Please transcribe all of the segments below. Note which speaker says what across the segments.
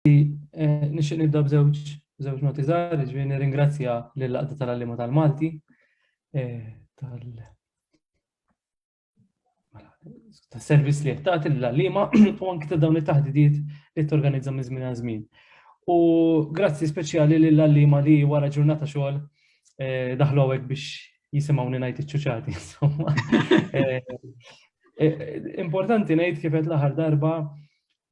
Speaker 1: Nixtieq nibda b'żewġ żewġ noti żgħar, ġifieri nirringrazzja lill-Għaqda tal-Għalliema tal-Malti tal tas-servizz li qed tagħti lill-għalliema u anke ta' dawn it-taħdidiet li torganizza minn żmien għal żmien. U grazzi speċjali lill-għalliema li wara ġurnata xogħol daħlu hawnhekk biex jisimgħuni ngħid iċ-ċuċati, insomma. Importanti ngħid kif qed l-aħħar darba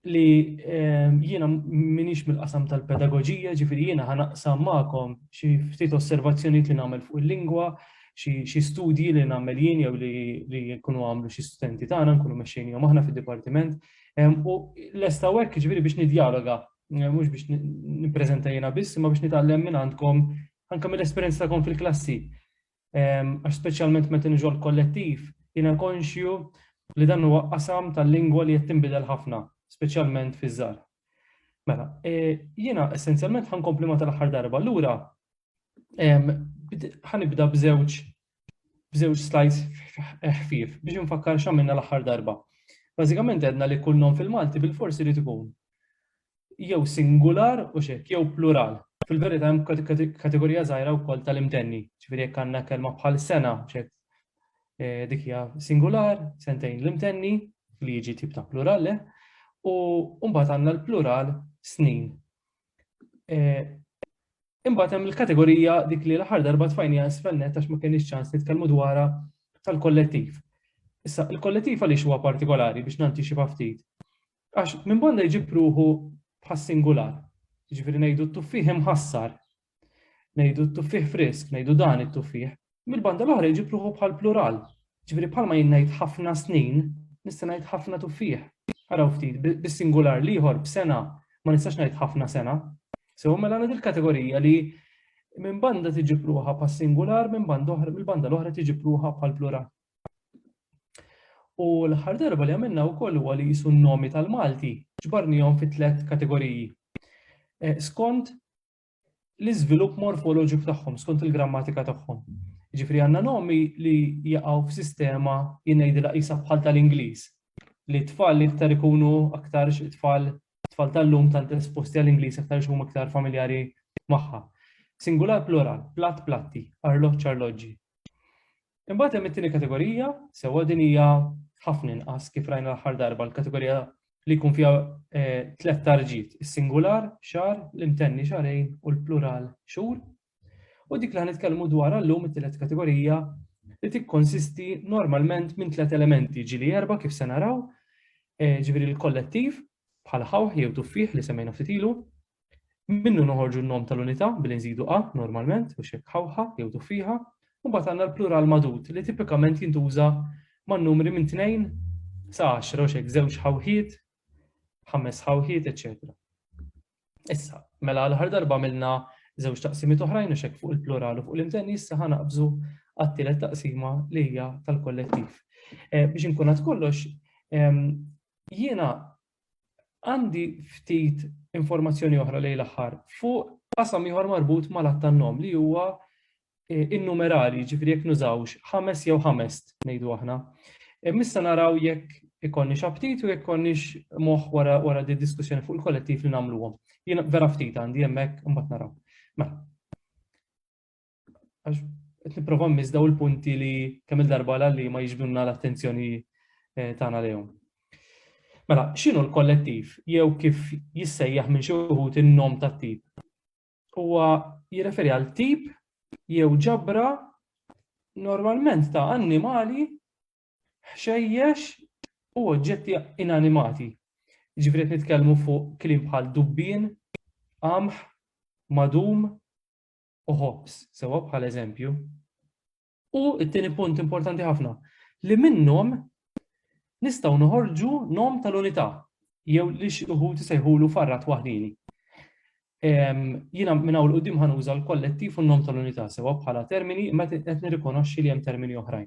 Speaker 1: li ehm, jiena minix mill-qasam tal-pedagogija, ġifiri jiena ħanaqsam ma'kom xi ftit osservazzjonijiet li nagħmel fuq il-lingwa, xi studji li nagħmel jien jew li jkunu għamlu xi studenti tagħna nkunu mexxejn jew aħna fid-dipartiment. Ehm, u lesta hekk ġifiri biex nidjaloga, eh, mhux biex nippreżenta jiena biss, imma biex nitgħallem minn għandkom anke mill-esperjenza tagħkom fil-klassi. għax speċjalment meta niġu l-kollettiv, jiena konxju li dan huwa qasam tal-lingwa li qed tinbidel ħafna, speċjalment fiż-żgħar. Mela, e, jiena essenzjalment ħankompli ma tal-aħħar darba. Allura ħanibda b'żewġ b'żewġ slides ħfief biex nfakkar x'għamilna l-aħħar darba. Bażikament għedna li kull non fil-Malti bil-forsi li tkun jew singular u x'hekk, jew plural. Fil-verità hemm kategorija żgħira wkoll tal-imtenni, ġifieri jekk għandna kelma bħal sena, x'hekk eh, dik hija singular, sentejn l-imtenni, li jiġi tip ta' plural, eh, u mbagħad għandna l-plural snin. Eh, imbagħad hemm il-kategorija dik li l-aħħar darba tfajnija sfennet għax ma kienx ċans nitkellmu dwarha tal-kollettiv. Issa, il-kollettiv għaliex huwa partikolari biex nanti xi ftit. Għax minn banda jġib ruħu bħas-singular. Jiġifieri ngħidu t-tuffieħ imħassar, ngħidu t-tuffieħ frisk, ngħidu dan it-tuffieħ. Mill-banda l-oħra jġib ruħu bħall-plural. Jiġifieri bħalma jien ngħid ħafna snin, nista' ngħid ħafna tuffieħ. Araw ftit, bis-singular l-ieħor b'sena ma nistax ngħid ħafna sena. Sew mela għandha il-kategorija li minn banda tiġib ruħha bħas-singular, minn banda oħra, mill-banda l-oħra tiġib ruħha bħall-plural. U l-aħħar darba li għamilna wkoll huwa li jisu n-nomi tal-Malti ġbarnihom fi tliet kategoriji. Eh, skont l-iżvilupp morfoloġiku tagħhom, skont il-grammatika tagħhom. Ġifri għandna nomi li jaqgħu f'sistema jingħidilha qisha bħal tal-Ingliż. Li tfal li iktar ikunu aktar tfal tfal tal-lum tant esposti għall-Ingliż aktar huma aktar familjari magħha. Singular plural, plat platti, arloġġ arloġġi. Imbagħad hemm it-tieni kategorija, sewwa din hija ħafna inqas kif rajna l-aħħar darba l-kategorija li jkun fiha eh, tlet tarġiet, is-singular, xar, l-imtenni xarejn u l-plural xhur. U dik li ħanitkellmu dwar llum it-tielet kategorija li tikkonsisti normalment minn tliet elementi ġili erba kif se naraw, eh, ġifieri l-kollettiv bħal ħawħ jew tuffieħ li semmejna ftit ilu, Minnu noħorġu n-nom tal-unità billi nżidu a normalment u xekk ħawħa jew tuffieħa, u mbagħad għandna l-plural magħdud li tipikament jintuża man-numri minn tnejn sa għaxra u xekk żewġ ħawħiet, ħames ħawħiet, eċċetera. Issa, mela l-aħħar darba għamilna żewġ taqsimiet oħrajn u xekk fuq il-plural u fuq l-imtenni issa ħanaqbżu għat-tielet taqsima li hija tal-kollettiv. Eh, biex inkun kollox, ehm, jiena Għandi ftit informazzjoni oħra lejn l-aħħar fuq qasam ieħor marbut mal-att tan-nom li huwa eh, innumerali, ġifri jekk nużawx ħames jew ħamest ngħidu aħna. Eh, missa naraw jekk ikonni xabtit u jekk konniex moħ wara wara di diskussjoni fuq il-kollettiv li nagħmluhom. Jien vera ftit għandi hemmhekk imbagħad naraw. Mela. għax qed nipprova mmiss daw il-punti li kemm il-darba li ma jiġbdunna l-attenzjoni eh, tagħna lejhom. Mela, x'inhu l-kollettiv jew kif jissejjaħ minn xi wħud in-nom tat-tip? Huwa jirreferi għal tip jew ġabra normalment ta' annimali ħxejjex u oġġetti inanimati. Ġifri nitkellmu fuq klim bħal dubbin, qamħ, madum, u ħobż, sewwa bħala eżempju. U t-tieni punt importanti ħafna, li minnhom nistgħu noħorġu nom tal-unità jew li xi wħud isejħulu farrat waħdini. Jiena minn hawn qudiem ħanuża l-kollettiv u n-nom tal-unità sewwa bħala termini meta qed nirrikonoxxi li hemm termini oħrajn.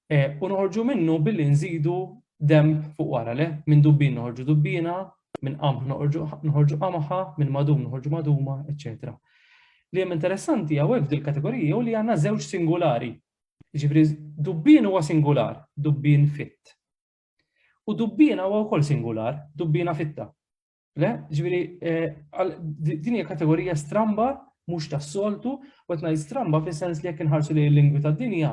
Speaker 1: E, u noħorġu minnu billi nżidu denb fuq wara, le, minn dubbin noħorġu dubbiena, minn qamħ noħorġu qamħa, minn madum noħorġu maduma, eċċetera. Li hemm interessanti hawnhekk f'dil kategorija u li għandna żewġ singulari. Ġifri, dubbin huwa singular, dubbin fit. U dubbiena huwa wkoll singular, dubbiena fitta. Le, ġviri, din hija kategorija stramba mhux tas-soltu, u qed ngħid stramba fis-sens li jekk inħarsu li l-lingwi tad-dinja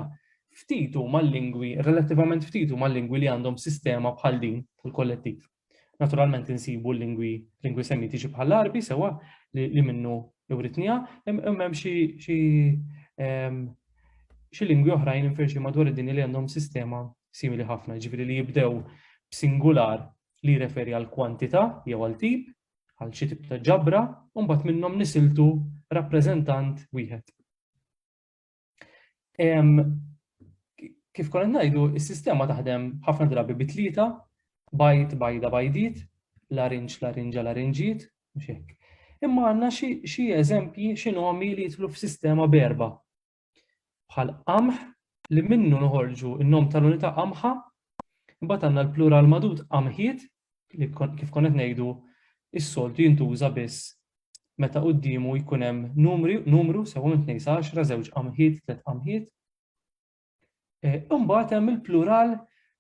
Speaker 1: ftitu mal-lingwi, relattivament ftitu mal-lingwi li għandhom sistema bħal din tal-kollettiv. Naturalment insibu l-lingwi lingwi semitiċi bħal arbi sewa li minnu iwritnija, imma xi xi lingwi oħrajn infirxi madwar id-dinja li għandhom sistema simili ħafna, ġifieri li jibdew b'singular li jirreferi għal kwantità jew għal tip, għal xi tip ta' ġabra, u mbagħad minnhom nisiltu rappreżentant wieħed. Kif konna ngħidu, is-sistema taħdem ħafna drabi bi tlieta, bajt, bajda, bajdit, larinġ, larinġa, larinġiet, mhux hekk. Imma għandna xi eżempji xi nomi li jitlu f'sistema berba. bħal qamħ li minnu noħorġu n-nom tal-unità qamħa, imbagħad għandna l-plural madud qamħiet li kif konna qed ngħidu is-soltu jintuża biss meta quddiemu jkun hemm numri, numru sewa minn tnejn sa għaxra, żewġ qamħiet, tliet qamħiet. E, imbagħad hemm il-plural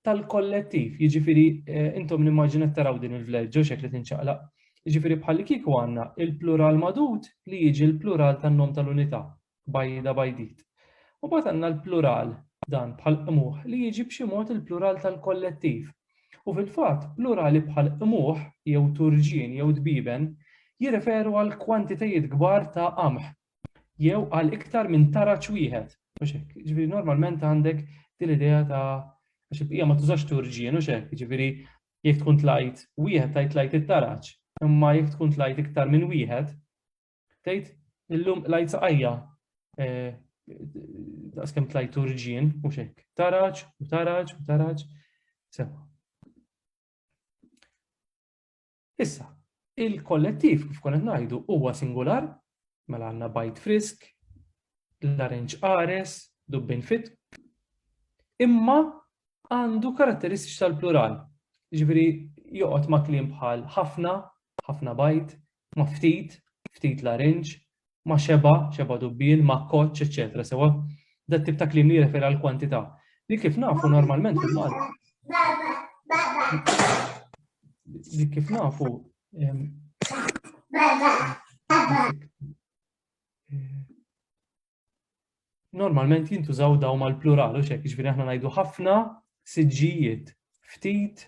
Speaker 1: tal-kollettiv, jiġifieri e, intom nimmaġina taraw din il-vleġġo xekk li tinċaqlaq. Jiġifieri bħal kieku għandna il-plural madud li jiġi l-plural tan-nom tal-unità. bajda bajdit. U mbagħad għandna l-plural dan bħal qmuħ li jiġi b'xi mod il-plural tal-kollettiv. U fil-fatt, plurali bħal qmuħ jew turġien jew dbieben jirreferu għal kwantitajiet kbar ta' qamħ jew għal iktar minn taraġ wieħed. Ġifieri normalment għandek din idea ta' għax il-bqija ma tużax turġien u xek, ġifieri jekk tkun tlajt wieħed tajt tlajt it-taraġ, imma jekk tkun tlajt iktar minn wieħed, Tgħid illum lajt saqajja eh, daqs kemm tlajt turġien u xek. Taraġ u taraġ u taraġ. Sewa. Issa, il-kollettiv kif konet ngħidu huwa singular, mela għandna bajt frisk, l-arenċ ares, dubbin fit, imma għandu karatteristiċi tal-plural. Ġifieri joqgħod ma' kliem bħal ħafna, ħafna bajt, ma' ftit, ftit larinġ, ma' xebgħa, xebgħa dubbiel, ma' kkoċċ, eċċetera sewwa. Dat-tip ta' kliem li jirreferi għall-kwantità, li kif nafu normalment fil-Malti. Li kif nafu normalment jintużaw daw mal-plural u xek, ġifiri aħna najdu ħafna siġġijiet, ftit,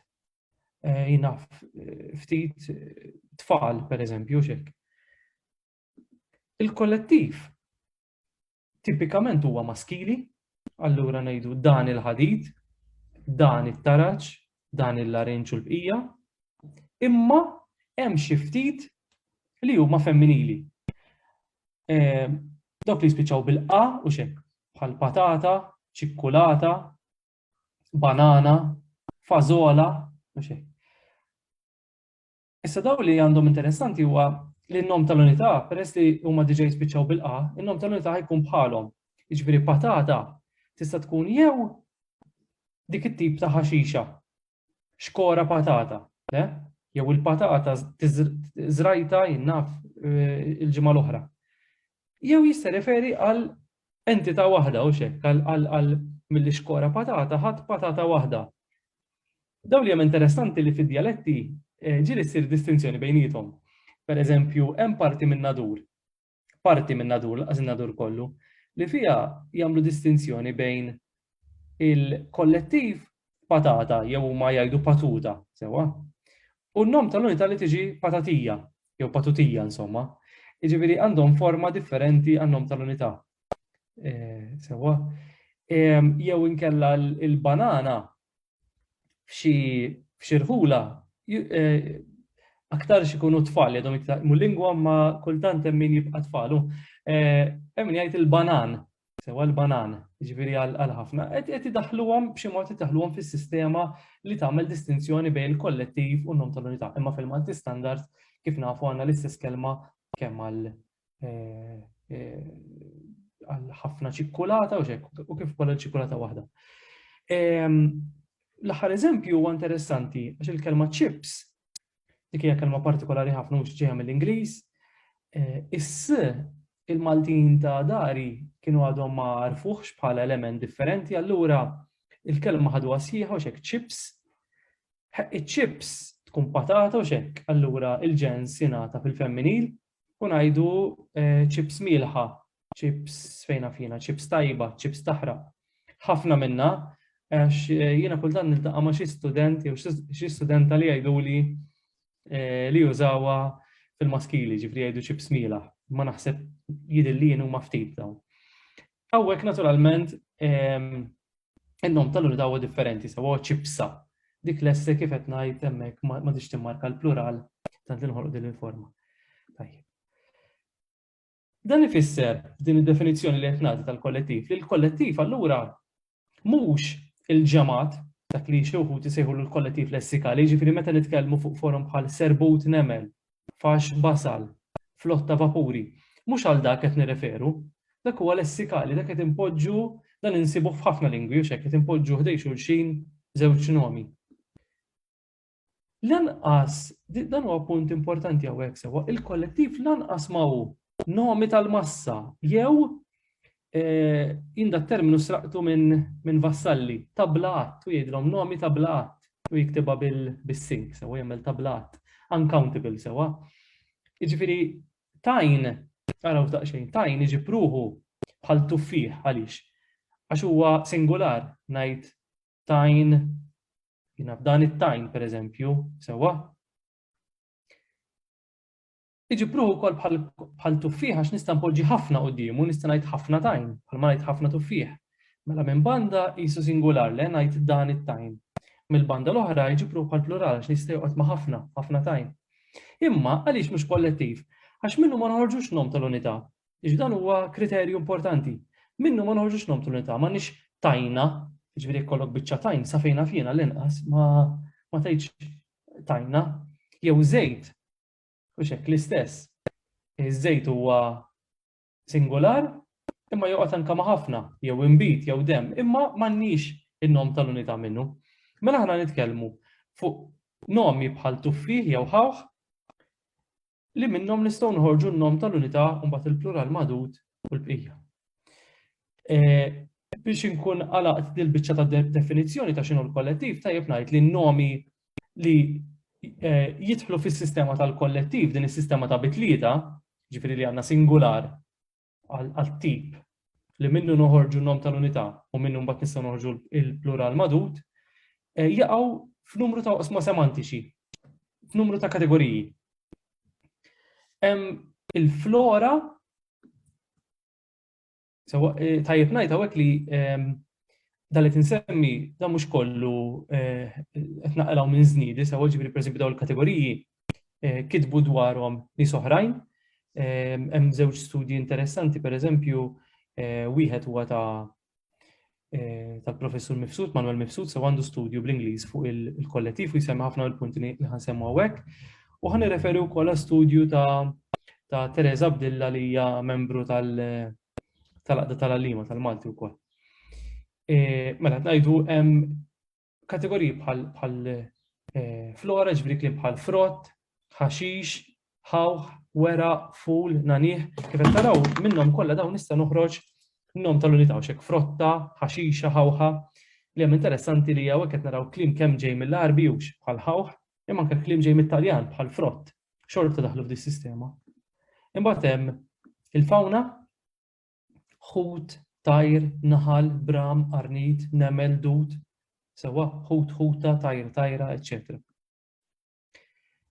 Speaker 1: eh, jinaf, eh, ftit eh, tfal, per eżempju, xek. Il-kollettiv tipikament huwa maskili, allura najdu dan il-ħadid, dan it-taraċ, dan il-larinċ u l-bqija, imma hemm xi ftit li huma femminili. dawk li jispiċċaw bil-qa u xek, bħal patata, ċikkulata, banana, fazola, u xek. Issa daw li għandhom interessanti huwa li n-nom tal-unità, peress li huma diġa jispiċċaw bil-qa, n-nom tal-unità jkun bħalhom. Iġveri patata tista' tkun jew dik it-tip ta' ħaxixa xkora patata, le? Jew il-patata żrajta jinnaf eh, il-ġimgħa l-oħra. Jew jista' referi għal entità waħda u xek, għal mill xkora patata ħadd patata waħda. Dawn li hemm interessanti li fid-dialetti eh, ġiri ssir distinzjoni bejnietom. Per eżempju, hemm parti minn nadur parti minn nadur, laqas in-nadur kollu, li fiha jagħmlu distinzjoni bejn il-kollettiv patata jew huma jgħidu patuta, sewa, u n-nom tal-unità li tiġi patatija jew patutija insomma. Jiġifieri għandhom forma differenti għan-nom tal-unità. Eh, sewa. Jew inkella l-banana f'xi rħula aktar xikunu tfal, jadhom iktar mu lingwa ma kultant hemm min jibqa' tfalu. Eh, hemm min jgħid il-banan, sewa l-banan, ġifieri għal ħafna, qed idaħluhom b'xi mod idaħluhom fis-sistema li tagħmel distinzjoni bejn il-kollettiv u n-nom tal-unità. Imma fil-Malti standard kif nafu għandna l-istess kelma kemm għal għal ħafna ċikkulata u xek, u kif kolla ċikkulata waħda. L-aħħar eżempju huwa interessanti għax il-kelma chips, dik hija kelma partikolari ħafna mhux ġejja mill-Ingliż, eh, is il-Maltin ta' dari kienu għadhom ma għarfuħx bħala element differenti, allura il-kelma ħadu għasjiħa u xek chips, chips tkun patata u xek, allura il-ġens jingħata fil-femminil, u ngħidu chips mielħa, chips fejn naf jiena, chips tajba, chips taħraq. Ħafna minnha għax jiena kultant niltaqa' ma' xi student jew xi studenta li jgħiduli li jużawha fil-maskili, ġifri jgħidu chips mielħa. Ma naħseb jidil li jien huma ftit dawn. Hawnhekk naturalment In-nom tal-unità huwa differenti sewa huwa ċipsa. Dik l-esse kif qed ngħid hemmhekk ma tix timmarka l-plural tant li nħolqu din il-forma. Tajjeb. Dan ifisser din id-definizzjoni li qed nagħti tal-kollettiv li l-kollettiv allura mhux il-ġemat dak li xi wħud isejħu l-kollettiv lessikali, jiġifieri meta nitkellmu fuq forum bħal serbut nemel Fax basal, flott ta' vapuri. Mhux għal dak qed nirreferu. Dak huwa lessikali, dak qed inpoġġu, dan insibuh f'ħafna lingwi, hux hekk, qed inpoġġu ħdejn xulxin żewġ nomi. Lanqas, dan huwa punt importanti hawnhekk sewwa, il-kollettiv lanqas ma hu nomi tal-massa jew Jien da terminu sraqtu minn vassalli, tabla għadd, u jgħidilhom nomi tabla għadd, u jiktibha bis-sink, sewwa jagħmel tabla għadd, uncountable, sewwa. Jiġifieri tajn, araw daqsxejn, tajn iġib ruħu bħal tuffieħ għaliex? Għax huwa singular, ngħid tajn, jiena f'dan it-tajn pereżempju, sewwa? Iġib ruħu wkoll bħal tuffieħ għax nista' npoġġi ħafna quddiemu, nista' ngħid ħafna tajn, bħalma ngħid ħafna tuffieħ. Mela minn banda qisu singular le ngħid dan it-tajn. Mill-banda l-oħra jġib ruħu bħal plural għax nista' joqgħod ma' ħafna, ħafna tajn. Imma għaliex mhux kollettiv? Għax minnu ma noħorġux nom tal-unità. Iġ dan huwa kriterju importanti. Minnu ma noħorġux nom tal-unità, ma nix tajna, ġviri kollok bicċa tajn, safejna fjena l-inqas, ma ma tajċ tajna, jew zejt, Mhux hekk l-istess. Iż-żejt huwa singular imma joqgħod anke ma' ħafna, jew inbid, jew demm, imma m'għandniex in-nom tal-unità minnu. Mela aħna nitkellmu fuq nomi bħal tuffih jew ħawħ li minnhom nistgħu nħorġu n-nom tal-unità u mbagħad il-plural madud u l-bqija. Eh, biex inkun għalaqt dil-biċċa ta' definizzjoni ta' xinu l-kollettiv, tajjeb ngħid li n-nomi li eh, jidħlu fis-sistema tal-kollettiv, din is-sistema ta' bitlieta, ġifiri li għandna singular għal-tip li minnu noħorġu n-nom tal-unità u minnu mbagħad nistgħu noħorġu il-plural madut, eh, jaqgħu f'numru ta' osma semantiċi, f'numru ta' kategoriji. Hemm il-flora Sewa eh, tajjeb ngħid hawnhekk li ehm, dan li tinsemmi dan mhux kollu eh, qed naqraw minn żniedi sewa ġifieri pereżempju dawn il-kategoriji eh, kitbu dwarhom nies oħrajn. Ehm, hemm żewġ studji interessanti pereżempju wieħed huwa ta' eh, tal-professur Mifsud, Manuel Mifsud, se għandu studju bl-Ingliż fuq il-kollettiv u jisemma ħafna l-punti li ħansemmu għawek. U ħan referi u kolla studju ta' ta' Teresa Abdilla li hija membru tal-Aqda tal-Alima tal-Malti wkoll. E, mela ngħidu hemm kategoriji bħal bħal eh, flora, ġbri klim bħal frott, ħaxix, ħawħ, wera, ful, nanih, kif qed taraw minnhom kollha dawn nista' noħroġ nom tal-unità u xek frotta, ħaxixa, ħawħa, li hemm interessanti li hawn qed naraw klim kemm ġej mill-Arbi hux bħal ħawħ, imma anke klim ġej mit-Taljan bħal frott, xorta daħlu f'dis sistema. Imbagħad hemm il-fawna Ħut, tajr, naħal, bram, qarnid, nemel, dud, sewwa, ħut, ħuta, tajr, tajra, eċċetera.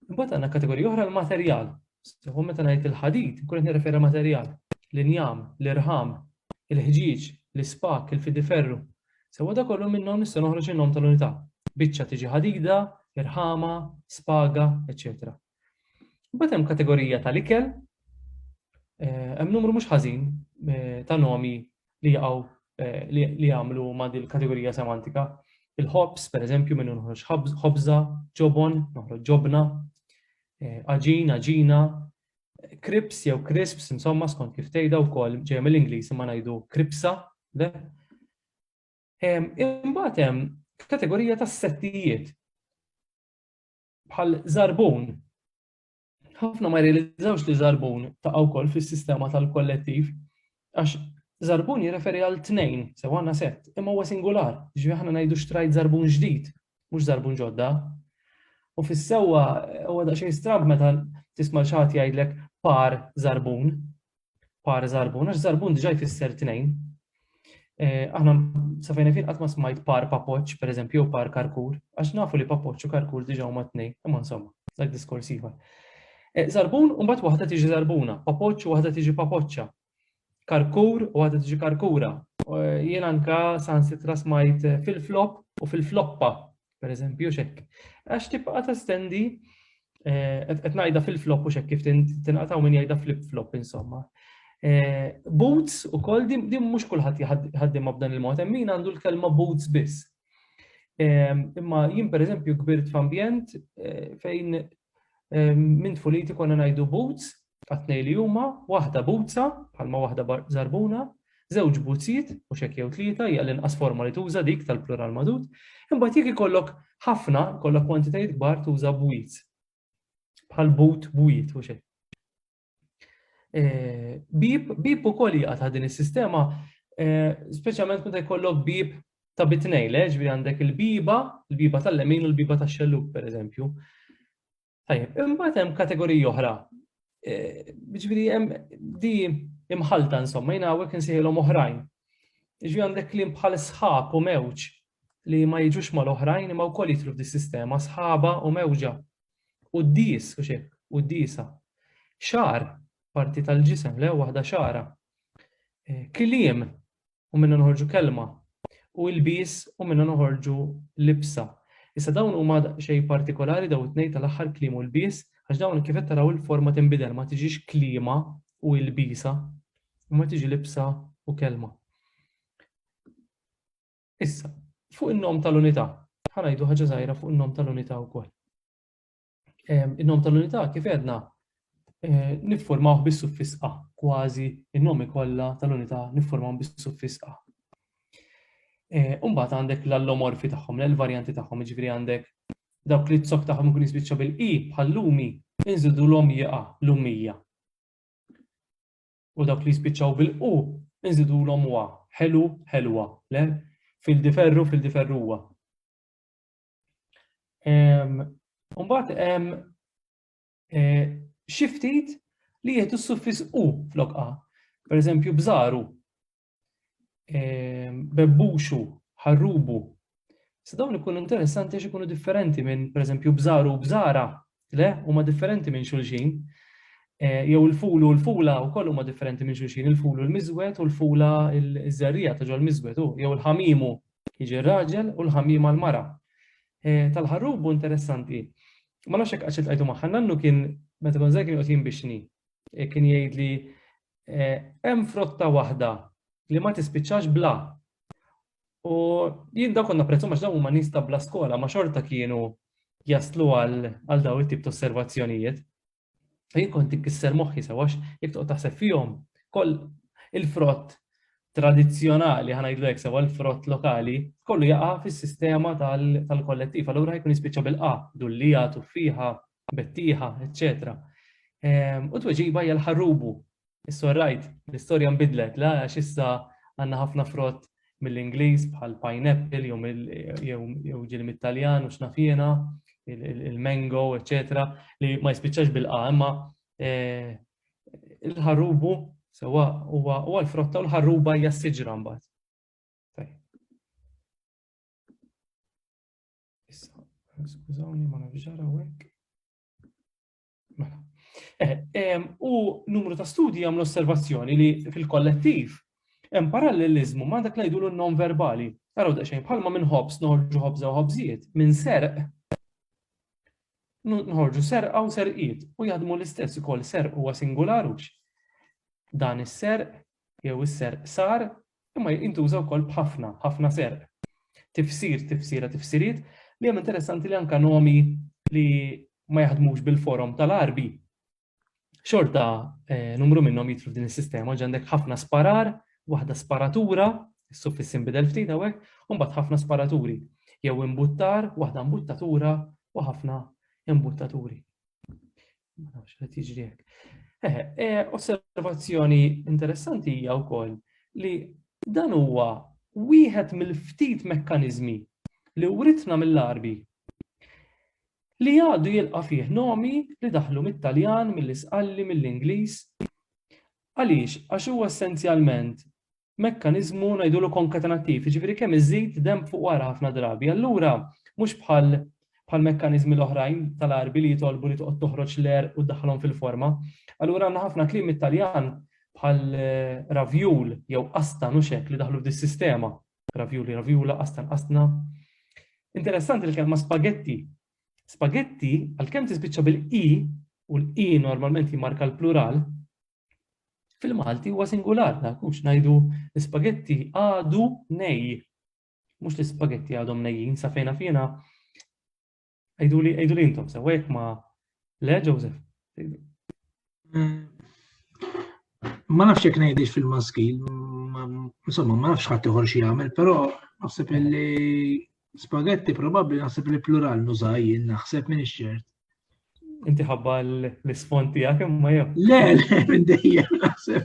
Speaker 1: Imbagħad għandna kategorija oħra l-materjal. Seħu meta ngħid il-ħadid, nkun qed nirreferi materjal, l-injam, l-irħam, il-ħġieġ, l-ispak, il-fidiferru. Sewa da kollu minnhom nista' noħroġ in-nom tal-unità. Biċċa tiġi ħadida, irħama, spaga, eċċetera. Mbagħad hemm kategorija tal-ikel, eh, hemm numru mhux ħażin eh, ta' nomi li jaqgħu eh, li jagħmlu ma' din kategorija semantika. Il-ħobs, per eżempju, minnu nħroġ ħobza, ġobon, noħroġ ġobna, aġin, aġina, krips jew crisps, insomma, skont kif tgħidha wkoll ġej mill-Ingliż ma ngħidu kripsa, le? Imbagħad hemm kategorija tas-settijiet. bħal zarbun. Ħafna ma jirrealizzawx li zarbun ta' wkoll fis-sistema tal-kollettiv għax zarbun jirreferi għal tnejn, sew għandna set, imma huwa singular, ġifieri aħna ngħidu xtrajt zarbun ġdid, mhux zarbun ġodda. U fis-sewwa huwa daqsxejn strab meta tisma' xi ħadd jgħidlek par zarbun, par zarbun, għax zarbun diġa jfisser tnejn. Eh, aħna safajna fin qatt ma smajt par papoċ, per eżempju, jew par karkur, għax nafu li papoċ u karkur diġa huma tnejn, imma insomma, dak diskors ieħor. Eh, zarbun u mbagħad waħda tiġi zarbuna, papoċ u waħda tiġi papoċċa. Karkur u waħda tiġi karkura. Eh, jien anka sansitra smajt fil-flop u fil-floppa. Per eżempju, xek. Għax tibqa testendi, eh, qed ngħidha fil-flop u xek kif tinqataw min jgħidha flip-flop insomma. Eh, boots u koll din mhux kulħadd jħaddim b'dan il-mod, hemm min għandu l-kelma boots biss. Imma jien pereżempju kbirt f'ambjent eh, fejn Minn tfuliti konna ngħidu boots għat-tnejn li huma, waħda butza, bħalma waħda żarbuna, żewġ buzziet, mhux hekk jew tlieta, hija l-inqas forma li tuża dik tal-plural magħdud, imbagħad jekk ikollok ħafna, ikollok kwantitajiet kbar tuża bwiet. Bħal but bwiet, mhux hekk. Eh, bib, bib u koll jgħata din il-sistema, eh, specialment meta jkollok bib ta' bitnej, leġ, bi għandek il-biba, il-biba tal-lemin u l-biba ta' xelluk, per eżempju. Tajjeb, imbagħad hemm kategoriji oħra. Eh, ġifieri hemm di imħalta insomma, jien hawnhekk insejħilhom oħrajn. Ġifieri għandek klim bħal sħab u mewġ li ma jiġux mal-oħrajn imma wkoll jitlu f'dis-sistema sħaba u mewġa. Quddies, u xi, quddiesa. Xagħar, parti tal-ġisem, le, waħda xagħra. Eh, kliem, u minna noħorġu kelma. U ilbies, u minna noħorġu libsa. Issa dawn huma xej partikolari daw it-tnejn tal-aħħar kliem u l-bies, għax dawn kif qed taraw il-forma tinbidel ma tiġix klima u l-bisa, u ma tiġi libsa u kelma. Issa, fuq in-nom tal-unità, ħa ngħidu ħaġa żgħira fuq in-nom tal-unità wkoll. Ehm, in-nom tal-unità kif għedna eh, niffurmawh bis-suffiss a, kważi in-nomi kollha tal-unità niffurmawhom bis-suffiss a. Eh, Umbat għandek l-allomorfi tagħhom, l-varjanti tagħhom, ġifieri għandek dawk li t-sok tagħhom ikun jispiċċa bil-i bħal lumi, inżidu l-om jaqa' lumija. u dawk li jispiċċaw bil-qu nżidulhom wa, ħelu, ħelwa, le? Fil-diferru, fil-diferruwa. Mbagħad hemm e, xi ftit li jieħdu s-suffis u flokqa. Per eżempju, bżaru, ehm, bebbuxu, ħarrubu. Se dawn ikunu interessanti għax ikunu differenti minn, per eżempju, bżaru u bżara, le, huma differenti minn xulxin. Eh, jew il-fulu u l-fula u kollu ma differenti minn xulxin, il-fulu l-mizwet u l-fula l-żerrija ta' ġol mizwet u jew il-ħamimu jiġi raġel u l-ħamima l-mara. Eh, tal-ħarrubu interessanti. Ma nafx hekk għaxet għajdu maħħa nannu kien meta kon kien qed jinbixni. Eh, kien jgħidli hemm frotta waħda li ma tispiċċax bla. U jien da konna prezzu maċ huma nies ta' bla skola ma xorta kienu jaslu għal daw it-tip ta' osservazzjonijiet. Jien kont tikkisser moħħi sewax jekk toqgħod taħseb fihom koll il-frott tradizzjonali ħana jidlu jekk sewa l-frott lokali kollu jaqa' fis-sistema tal-kollettiv. Allura jkun jispiċċa bil-qa, dullija, tuffiħa, bettieħa, eċċetera. Ehm, u tweġiba hija l-ħarrubu. Issa rajt, l-istorja nbidlet, la għax issa għandna ħafna frott mill-Ingliż bħal pineapple jew ġil mit-Taljan u x'nafjena, il-mango, eċċetera, li ma jispiċċax bil-qa, imma eh, il-ħarrubu sewa huwa l-frotta u l-ħarruba hija s-siġra mbagħad. Issa, skużawni ma nafx ġara hekk. Mela. Eh, u numru ta' studji għamlu osservazzjoni li fil-kollettiv hemm parallelizmu ma' dak li jgħidulu non-verbali. Araw daqsxejn bħalma minn ħobs noħorġu ħobża u ħobżijiet, minn serq nħorġu serqa u serqiet u jaħdmu l-istess ukoll serq huwa singular hux. Dan is-serq jew is-serq sar, imma jintuża wkoll b'ħafna, ħafna serq. Tifsir, tifsira, tifsiriet, li hemm interessanti li anke nomi li ma jaħdmux bil-forom tal-Għarbi, xorta numru minnhom jidħlu f'din is-sistema, ġi għandek ħafna sparar, waħda sparatura, is-suffissi inbidel ftit hawnhekk, u mbagħad ħafna sparaturi, jew imbuttar, waħda mbuttatura u ħafna imbuttaturi. Ma nafx qed jiġri hekk. Eh, eh, osservazzjoni interessanti hija wkoll li dan huwa wieħed mill-ftit mekkaniżmi li writna mill-arbi li għadu jilqa fih nomi li daħlu mit-Taljan, mill-Isqalli, mill-Ingliż. Għaliex? Għax huwa essenzjalment mekkaniżmu ngħidulu konkatenattiv, jiġifieri kemm iżid demb fuq wara ħafna drabi. Allura mhux bħal bħal mekkaniżmi l-oħrajn tal-arbi li jitolbu li toqgħod toħroġ l-er u ddaħħalhom fil-forma. Allura għandna ħafna kliem it-Taljan bħal eh, ravjul jew asta nuxek li daħlu f'dis sistema Ravjuli, ravjula, astan, astna. Interessanti l-kelma spagetti. Spagetti, għal-kem tispiċċa bil-i, u l-i normalment jimarka l-plural, Fil-Malti huwa singular, ma nkunx ngħidu l-ispagetti għadu nej. Mhux l-ispagetti għadhom nejjin sa fejna fina. Għidu li għidu li intom sewa jekk ma le Joseph. Eh,
Speaker 2: ma nafx jekk ngħidix fil-maskil, insomma ma nafx ħadd ieħor xi jagħmel, però naħseb li Spaghetti probabbli naħseb li plural nuża jien naħseb minn ix-xert. Inti
Speaker 1: ħabba l-ispont tiegħek imma jew. Le, le, minn
Speaker 2: dejjem naħseb.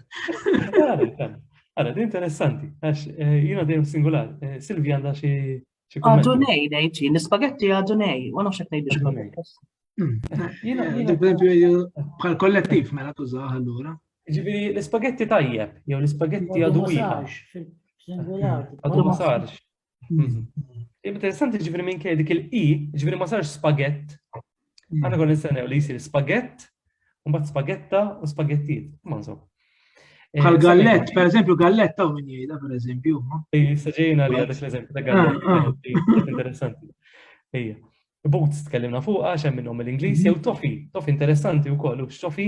Speaker 1: Għara, di interessanti, għax eh, jina dejjem singular. Eh, Silvi għandha xi Għadu nej,
Speaker 3: nejċi, l-spaghetti għadu nej, u nafx għet nejdu xkun.
Speaker 2: Bħal kollettiv mela tużaħ allura. Ġibiri, l-spaghetti
Speaker 1: tajjeb, jew l-spaghetti għadu wieħed. Għadu ma sarx. Interessanti ġifiri minn kej dik il-i, ġifiri ma sarx spagett. Mm. Għana kon nistennew li jisir spagett, un bat spagetta u spagettiet. Ma nso. Eh, Għal
Speaker 2: gallett, per eżempju, gallett taw minn jgħida, per eżempju. Jistaġejna li
Speaker 1: għadek l-eżempju ta' gallett. Ah, ah. Interessanti. Ejja. Boots tkellimna fuqa, xem minnhom l-Ingliż, jew tofi, tofi interessanti u kollu, xofi,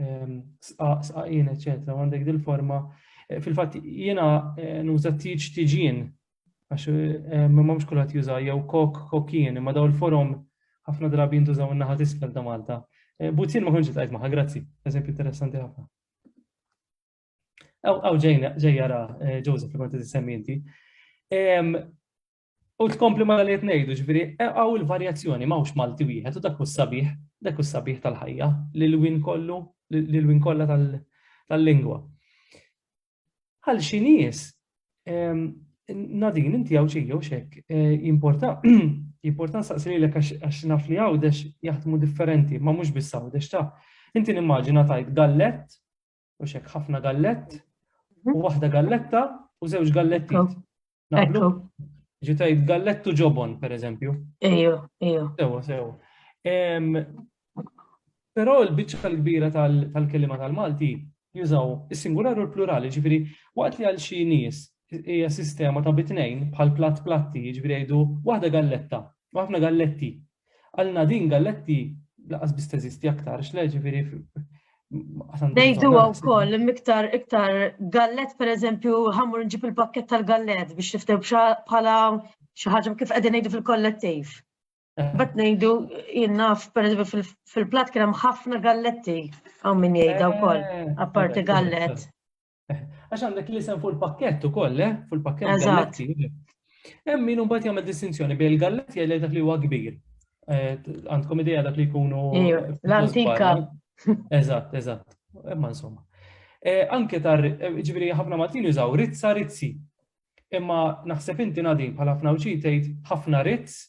Speaker 1: ehm, sqaq, sqaqin, eċetera, u għandek dil-forma. Eh, fil-fatt jiena eh, nuża tiġ tiġin, għax eh, ma mhux kulħadd juża jew kok kokin, imma daw il-forom ħafna drabi jintużaw in-naħa tisfel ta' Malta. Buzzin ma konġi tajt maħa, grazzi, eżempju interessanti ħafna. Aw ġejna ġejjara Joseph li kont tisemmi inti. Ehm, U tkompli ma li ngħidu ġifieri hawn il-varjazzjoni m'hawnx Malti wieħed u dak hu sabiħ, dak hu sabiħ tal-ħajja li l-win kollu, li l-win kollha tal-lingwa. Għal xi nies ehm, Nadin, inti għaw ċiju xek, eh, jimporta, jimporta nsaqsi li l-ek għax naf li għawdex jaħdmu differenti, ma mux biss għawdex ta' inti nimmaġina tajt gallet u xek ħafna gallett, u waħda galletta u żewġ galletti. Naqblu? Ġitajt gallettu ġobon, per eżempju. Ejo, ejo.
Speaker 3: Sewa, sewa.
Speaker 1: Pero l-bicċa tal-kbira tal-kelima tal-Malti jużaw is-singular u l-plurali, ġifiri, waqt li għal xi nies hija sistema ta' bitnejn bħal platt platti, ġifiri jgħidu waħda galletta, waħna galletti, Għal Nadine Galletti laqas biss teżisti aktar, xle ġifieri
Speaker 3: Nejdu għaw koll, miktar iktar gallet per eżempju, ħamur nġib il-pakket tal-gallet biex tiftew bħala xaħġa kif għedin nejdu fil-kollettiv. Eh. Bat nejdu jinnaf per eżempju fil-plat kienem ħafna galletti għaw minn jgħida u koll, eh, apparti gallet. Għax
Speaker 1: għandek l-isem fuq il-pakkett ukoll, eh? Fuq il-pakkett galletti. Hemm min imbagħad jagħmel distinzjoni bejn il-galletti għal dak li huwa kbir. Eh, għandkom idea dak li jkunu. L-antika.
Speaker 3: Eżatt,
Speaker 1: eżatt. Imma insomma. Eh, anke tar, eh, ġifieri ħafna Maltin jużaw rizza rizzi. Imma naħseb inti nadin bħal ħafna uċi tgħid ħafna rizz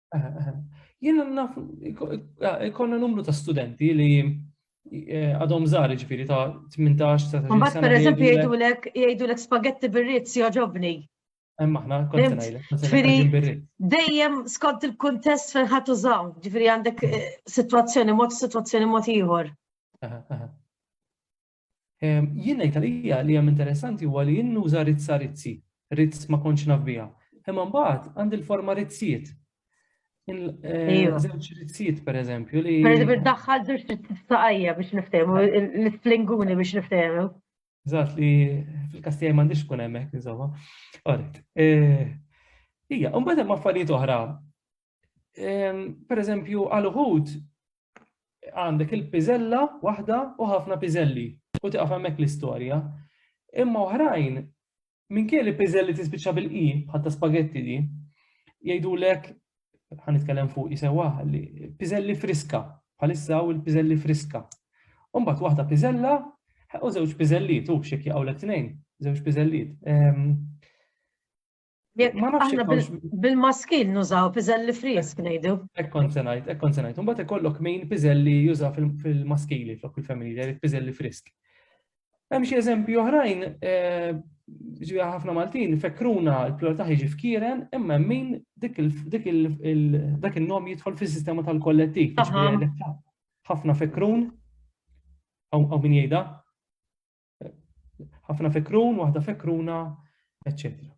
Speaker 1: Jiena naf ikonna numru ta' studenti li eh, għadhom żgħar ġifieri ta' 18 ta' Mbagħad pereżempju jgħidulek
Speaker 3: jgħidulek spagetti bir-rizz joġobni. Hemm aħna
Speaker 1: kont ngħidlek. Dejjem
Speaker 3: skont il-kuntest fejn ħadd użaw, ġifieri għandek eh, sitwazzjoni mod sitwazzjoni mod ieħor.
Speaker 1: Ehm, jien ngħid għalija li hemm interessanti huwa li jinnuża rizza rizzi, rizz ma kontx naf biha. Imma mbagħad għandi l-forma rizziet. Eh, żewġ rizziet pereżempju li. Pereżempju daħħal żewġ
Speaker 3: rizziet saqajja biex niftehmu, l-isplinguni biex niftehmu. Zat li
Speaker 1: fil-kastijaj m'għandix kun hemmhekk insomma. Għarit. Eh, ija, u mbagħad hemm affarijiet oħra Per eżempju, għal uħud għandek il-piżella waħda u ħafna piżelli u tiqaf hemmhekk l-istorja. Imma oħrajn minn kien li piżelli tispiċċa bil-qi bħatta spagetti di, jgħidulek ħan nitkellem fuq jisewa li piżelli friska, bħalissa u l-piżelli friska. Umbat waħda piżella u żewġ piżelliet, u xek jaqgħu l-tnejn, żewġ piżelliet. Ehm,
Speaker 3: Bil-maskil nużaw piżelli frisk ngħidu. Ekkon se ngħid,
Speaker 1: ekkon se ngħid. Imbagħad ikollok min piżelli juża fil-maskili flok il-familji, jgħid piżelli frisk. Hemm xi eżempji oħrajn eh, ġiha ħafna Maltin fekruna l-plura taħi ġi fkiren imma min dak il-nom jidħol fis-sistema tal-kollettiv. Ħafna fekrun, għaw min jgħida, ħafna fekrun, waħda fekruna, eccetera.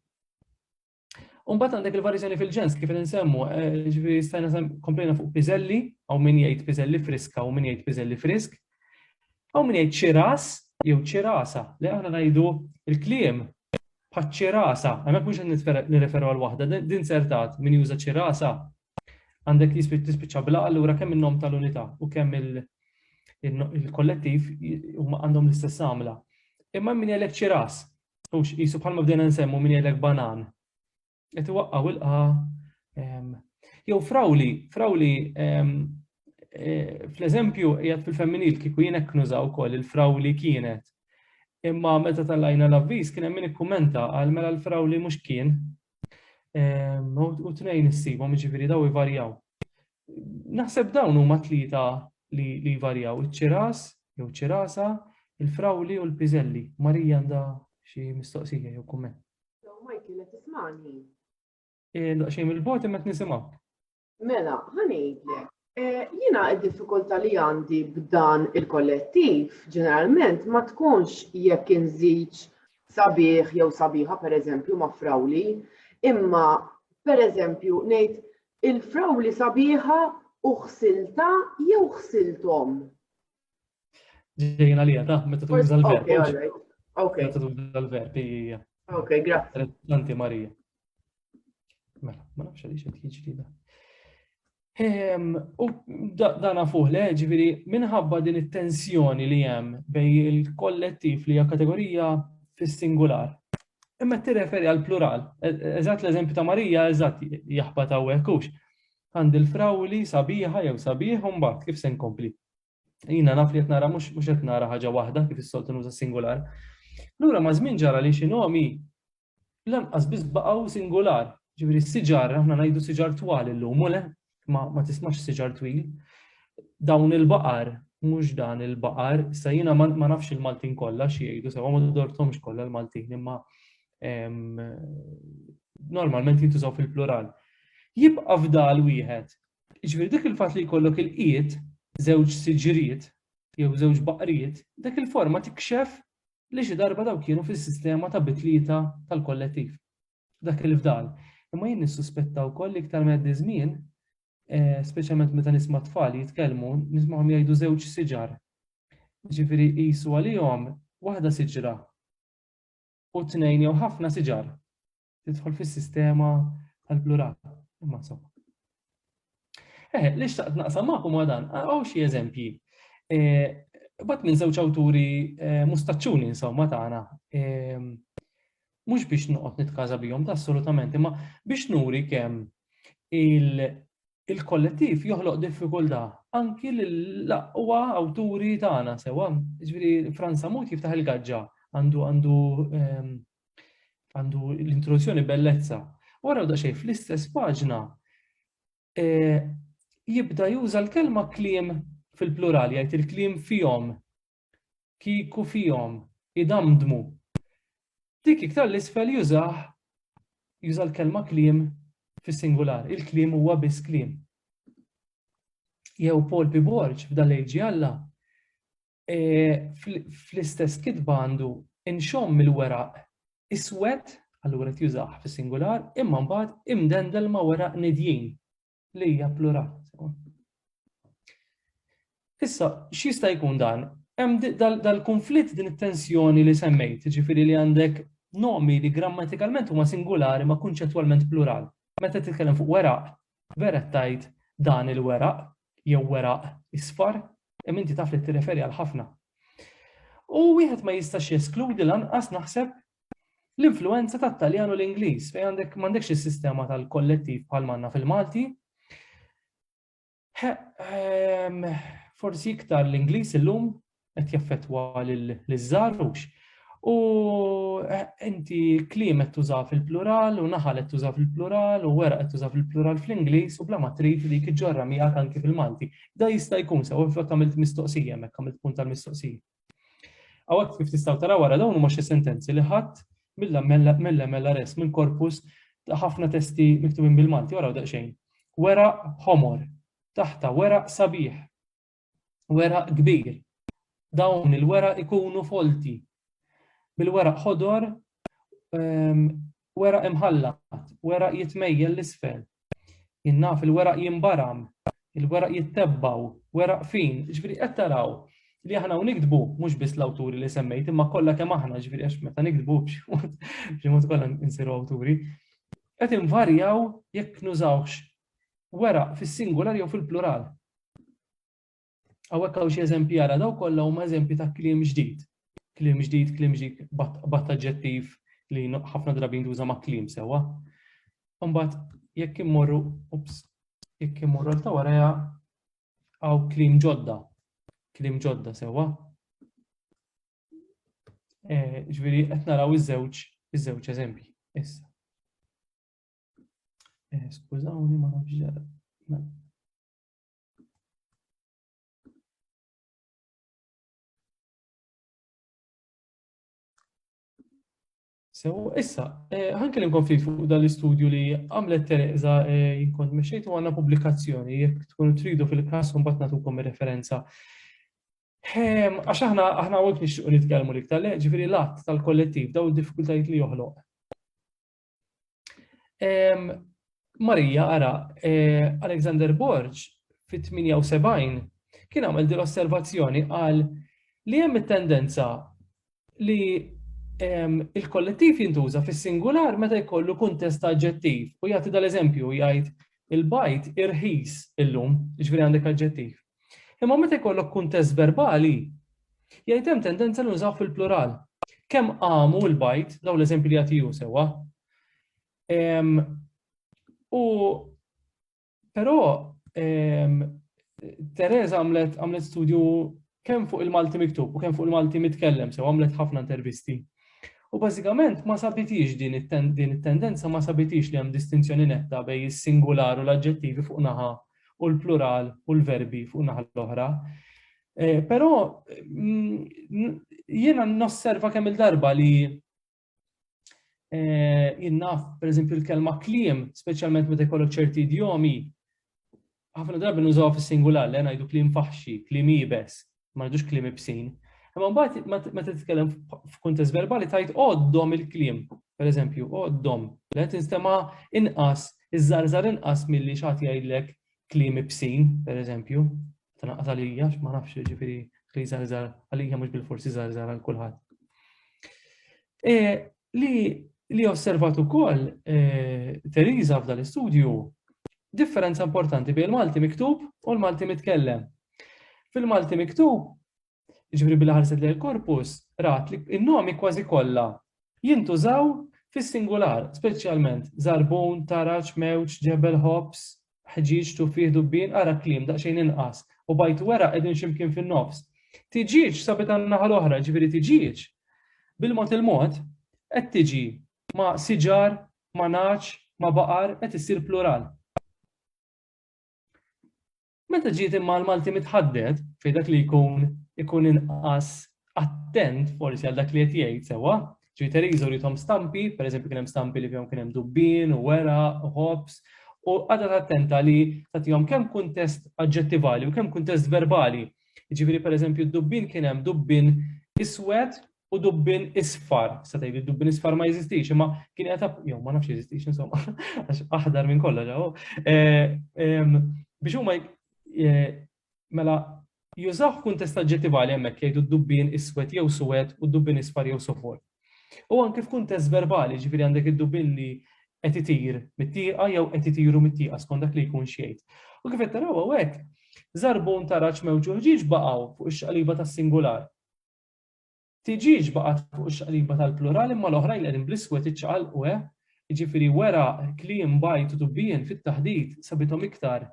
Speaker 1: Umbat għandek il-varjizjoni fil-ġens, kif nsemmu, eh, ġifiri stajna komplejna fuq pizelli, għaw min jgħid pizelli friska, għaw min jgħid pizelli frisk, għaw min jgħid ċiras, jew ċirasa, li għana najdu il-kliem bħat ċirasa, għamek mux nirreferu għal wahda, din sertat min juża ċirasa, Għandek tispiċċa bla allura kemm in-nom tal-unità u kemm il-kollettiv huma għandhom l-istess għamla. Imma min jgħidlek ċiras, u qisu bħalma bdejna nsemmu min jgħidlek banan. Qed iwaqqgħu ilqa jew frawli, frawli eh, fl-eżempju jgħat fil-femminil kieku jien hekk nużaw ukoll il-frawli kienet. Imma meta tal-lajna l-avviż kien hemm min ikkumenta għal mela l-frawli mhux kien, Ehm, u tnejn issibhom, jiġifieri daw ivarjaw. Naħseb dawn huma tlieta li jvarjaw, iċ-ċiras jew ċirasa, il-frawli u l-piżelli. Marija għandha xi mistoqsija jew kumment.
Speaker 4: Michael qed tismani.
Speaker 1: Eh, xejn il-bot imma qed nisimgħu. Mela,
Speaker 4: ħanejlek, Eh, jina id-diffikulta li għandi b'dan il-kollettiv ġeneralment ma tkunx jekk inżiġ sabiħ jew sabiħa per eżempju ma' frawli, imma per eżempju ngħid il-frawli sabiħa u ħsilta jew ħsiltom.
Speaker 1: Ġejjin għalija, ta' meta tuża l-verb. Ok, all right. Ok. Meta
Speaker 4: tuża l-verb,
Speaker 1: hija. Ok, grazie.
Speaker 4: Tanti Marija.
Speaker 1: Mela, ma nafx għaliex qed jiġri da. Ehm, u dana fuq le, ġifieri minħabba din it-tensjoni li hemm bej il-kollettiv li hija kategorija fis-singular. Imma tirreferi għal plural. E-, eżatt l-eżempju ta' Marija eżatt jaħbat hawnhekk hux. Għandi l-frawli sabiħa jew sabiħ u mbagħad kif se nkompli. Jina naf li qed nara mhux mhux qed nara ħaġa waħda kif is-soltu nuża singular. Lura ma' żmien ġara li xi nomi lanqas biss baqgħu singular. Ġifieri siġar aħna ngħidu siġar twal illum u le ma, ma tismax siġar twil. Dawn il-baqar mhux dan il-baqar, sa jiena ma, ma nafx il-Maltin kollha xi jgħidu sewa ma dortomx kollha l-Maltin imma normalment jintużaw fil-plural. Jibqa' fdal wieħed Jiġifieri dik il-fatt li jkollok ilqiet, żewġ siġriet jew żewġ baqriet, dik il-forma tikxef li xi darba dawk kienu fis-sistema ta' bitlieta tal-kollettiv. Dak il-fdal. Imma jien nissuspetta wkoll li iktar ma jgħaddi ż-żmien, eh, speċjalment meta nisma' tfal jitkellmu, nismagħhom jgħidu żewġ siġar. Jiġifieri qisu għalihom waħda siġra u tnejn jew ħafna siġar. tidħol fis-sistema tal-plural. Imma insomma. Eh, li xtaqt naqsam magħkom ma dan, għaw xi eżempji. Eh, bat minn żewġ awturi eh, mustaċċuni insomma tagħna. Eh, mhux biex noqgħod nitkaża bihom ta' assolutament, imma biex nuri kemm il-kollettiv joħloq diffikultà anki l-aqwa awturi tagħna sewa. Ġifieri Franza Mut jiftaħ il-gaġġa għandu għandu ehm, għandu l-introduzzjoni bellezza. Wara daqsxejn fl-istess paġna e, jibda juża l-kelma kliem fil-plural, jgħid il-kliem fihom, kiku fihom, idamdmu. Dik iktar l-isfel jużah juża l-kelma kliem fis-singular, il-kliem huwa biss kliem. Jew Paul Piborġ f'dal-leġi Alla fl-istess kitba għandu inxomm mill-weraq iswed, allura tjużaħ fis-singular, imma mbagħad imdendel ma' weraq nidjin li hija plural. Issa, x'jista' jkun dan? Hemm dal-konflitt din it-tensjoni li semmejt, ġifieri li għandek nomi li grammatikalment huma singulari ma kunċettwalment plural. Meta titkellem fuq weraq, vera tajt dan il-weraq, jew weraq isfar, imma inti taf li tirreferi għal ħafna. U wieħed ma jistax jeskludi lanqas naħseb l-influenza tat-Taljan u l-Ingliż fejn għandek m'għandekx is-sistema tal-kollettiv bħal manna fil-Malti. Ehm, forsi iktar l-Ingliż illum qed jaffettwa liż-żgħarux. U eh, inti kliem qed tuża fil-plural u naħal qed tuża fil-plural u wera qed tuża fil-plural fl-Ingliż u bla ma trid li kiġġorra miegħek anki fil-Malti. Da jista' jkun sew inflok għamilt mistoqsija hemmhekk għamilt punt tal-mistoqsija. Għawek kif tistaw tara wara dawn huma xi sentenzi li ħadd mill-mella res minn korpus ħafna testi miktubin bil-Malti wara daqsxejn. Wera homor, taħta wera sabiħ. weraq kbir. Dawn il-weraq ikunu folti bil-weraq ħodor ehm, weraq imħallat, weraq jitmejjel l-isfel. Jinnaf il-weraq jimbaram, il-weraq jittebbaw, weraq fin, ġviri qed taraw li aħna u nikdbu mhux biss l-awturi li semmejt imma kollha kemm aħna ġviri għax meta nikdbu b'xi mod kollha nsiru awturi. Qed invarjaw jekk nużawx weraq fis-singular jew fil-plural. Għawek għaw xie eżempji għara, daw kolla huma eżempji ta' klim ġdid. Klim ġdid, klim ġdid, bat ġettif li ħafna drabi jintuża ma' klim sewa. Umbat, jekk immorru, ups, jekk immorru ta' waraja għaw klim ġodda. Klim ġodda sewa. Eh, ġviri, qed naraw iż-żewġ, iż-żewġ eżempji. Issa. Eh, skużawni, ma nafx ġara. Mela. So, issa, eh, ħankellimkom fi fuq dal-istudju li għamlet Tereza eh, jinkont meċċejtu għanna publikazzjoni, jek tkun tridu fil-kas un batna tukom referenza. Ehm, għax aħna aħna għawek nixtiqu nitkellmu li ktar, ġifiri lat tal-kollettiv, daw diffikultajiet li joħloq. Marija, ara, eh, Alexander Borg fit-78 kien għamel din osservazzjoni għal li hemm it-tendenza li il-kollettiv jintuża fis-singular meta jkollu kuntest aġġettiv u jagħti dal-eżempju jgħid Il-bajd irħis illum, jiġifieri għandek aġġettiv. Imma meta jkollok kuntest verbali, jgħid hemm tendenza li nużaw fil-plural. Kemm qamu l-bajd, dawn l-eżempji li jagħti hu sewwa. Ehm, u però ehm, Teresa għamlet għamlet studju kemm fuq il-Malti miktub u kemm fuq il-Malti mitkellem sew għamlet ħafna intervisti. U bażikament ma sabitiex din it-tendenza ma sabitiex li hemm distinzjoni netta bejn is-singular u l-aġġettivi fuq naħa u l-plural u l-verbi fuq naħa l-oħra. Eh, però mm, jiena nosserva kemm il-darba li Eh, Innaf, per eżempju, l-kelma klim, specialment meta jkollok ċerti idjomi, ħafna drabi nużaw fis-singular, li ngħidu klim faħxi, klim ibes, ma ngħidux klim ibsin. Imma mbagħad meta titkellem f'kuntest verbali tajt għoddom il-klim, per eżempju, għoddom, li tinstema inqas, iż-żarżar inqas milli xagħti jgħidlek klim ibsin, per eżempju. tnaqqas għalija ma nafx ġifieri li żarżar għalija mhux bil-forsi żarżar għal kulħadd. E, li li osservat ukoll e, Teresa f'dan l-istudju differenza importanti bejn il-Malti miktub u l-Malti mitkellem. Fil-Malti miktub Ġifri billi ħarset lejn korpus, rat li n-nomi kważi kollha jintużaw fis-singular, speċjalment zarbun, taraġ, mewġ, ġebel, ħobż, ħġieġ, tufih, dubbien, ara kliem daqsxejn inqas, u bajt weraq qegħdin xi mkien fin-nofs. Tiġieġ sabet għan-naħa l-oħra, ġifieri tiġieġ bil-mod il-mod qed tiġi ma' siġar, ma' naċ, ma' baqar qed issir plural. Meta ġiet imma l-Malti mitħaddet fi dak li jkun ikun inqas attent forsi għal dak li qed jgħid sewwa, ġi Teresa rithom stampi, pereżempju kien hemm stampi li fihom kien hemm dubbien u wera u ħobs, u għadet attenta li tagħtihom kemm kuntest aġġettivali u kemm kuntest verbali. Jiġifieri pereżempju d-dubbien kien hemm dubbien iswed u dubbin isfar, sa tgħid dubbin isfar ma jeżistix, imma kien qed jew ma nafx jeżistix insomma, għax aħdar minn kollha ġew. Eh, biex huma eh, mela jużaw kuntest aġġettivali hemmhekk jgħidu dubbin iswed jew suwed u dubbin isfar jew sofol. U anke f'kuntest verbali, ġifieri għandek id-dubbin li qed itir mit-tieqa jew qed itiru mit-tieqa skont dak li jkun xejn. U kif qed taraw hawnhekk, żarbun taraġ mewġuħ ġiex baqgħu fuq ix-xaqliba tas-singular Tiġiex baqgħet fuq ix-xaqliba tal-plural imma l-oħrajn li qegħdin bl-iswed iċċaqalqu eh, jiġifieri weraq, kliem, bajd u dubbien fit-taħdit sabithom iktar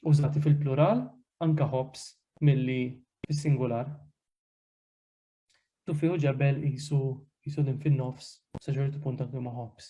Speaker 1: użati fil-plural, anke ħobż, milli fis-singular. Tuffi u ġebel qisu qisu din fin-nofs, sa ċertu punt anke huma ħobż.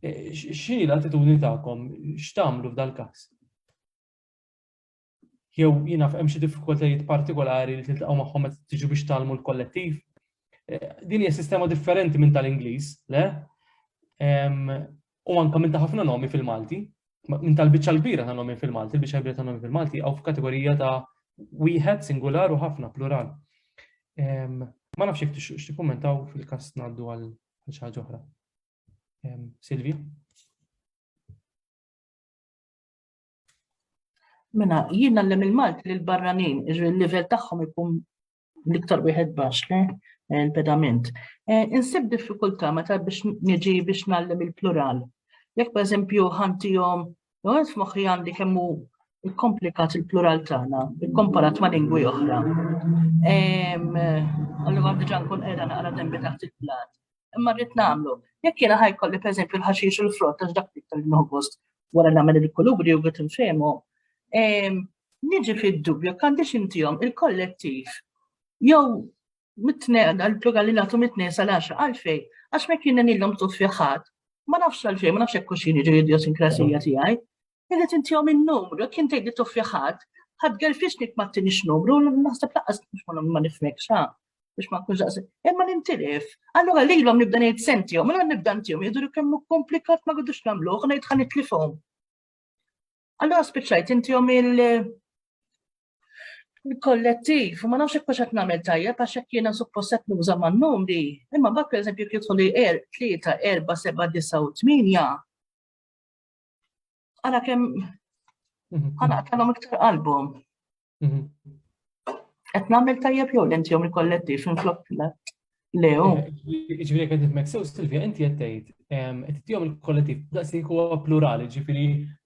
Speaker 1: X'inhi l-attitudni tagħkom? X'tagħmlu f'dal-każ? Jew jiena hemm xi diffikultajiet partikolari li tiltaqgħu magħhom meta tiġu biex tagħlmu l-kollettiv? Eh, din hija sistema differenti minn tal-Ingliż, le? U anka minn ta' ħafna nomi fil-Malti, minn tal-biċċa l-kbira ta' nomi fil-Malti, il-biċċa l-kbira ta' nomi fil-Malti, għaw f'kategorija ta' wieħed singular u ħafna plural. Ma nafx jek x'tikkummentaw fil-każ ngħaddu għal xi ħaġa oħra. Silvi?
Speaker 5: Mena, jien għallem il-Malt li l-barranin, il-level tagħhom ikun l-iktar wieħed baxx eh, il-pedament. Eh, insib diffikultà meta biex niġi biex nallem il-plural. Jekk per eżempju ħantijom, għed f'moħħi għandi kemmu komplikat il-plural tagħna, ikkomparat ma' lingwi oħra. Allura għandi ġan kun qiegħda naqra dembi taħt il-plat. imma rrid nagħmlu. Jekk jiena ħajkolli pereżempju l-ħaxix u l-frott għax dak iktar li nħogost wara nagħmel il-kulubri u għet nfehmu. Ehm, niġi fid-dubju għandix intihom il-kollettiv jew mitneqda għal plural li nagħtu mitneqda sal għaxa għalfej għax ma kien nilhom tut fiħat. Ma nafx għalfej, ma nafx hekk kuxini ġu idiosinkrasija tiegħi. Irrid intihom in-numru, kien tgħid li tuffi ħadd, ħadd gerfixnik ma tinix numru, naħseb laqqas ma nifmek xa, biex ma nkunx daqs. Imma nintilif, allura lilhom nibda ngħid sentihom, mela nibda ntihom jidhru kemm komplikat ma għadux nagħmluh, ngħid ħa nitlifhom. Allura spiċċajt intihom il- kollettiv, ma nafx hekk qed nagħmel tajjeb għax hekk jiena suppost qed nuża man-numri, imma bak pereżempju jekk jidħol er tlieta, erba', seba', disa' u tminja. Għala kem mhm. għala kellhom iktar album. Mhm. Qed nagħmel tajjeb jew l-inti jom il-kollettiv minn flok Lew. Eh, ġifieri
Speaker 1: qed nifmek sew Silvia inti qed tgħid qed tihom il-kollettiv daqsi huwa plurali ġifieri.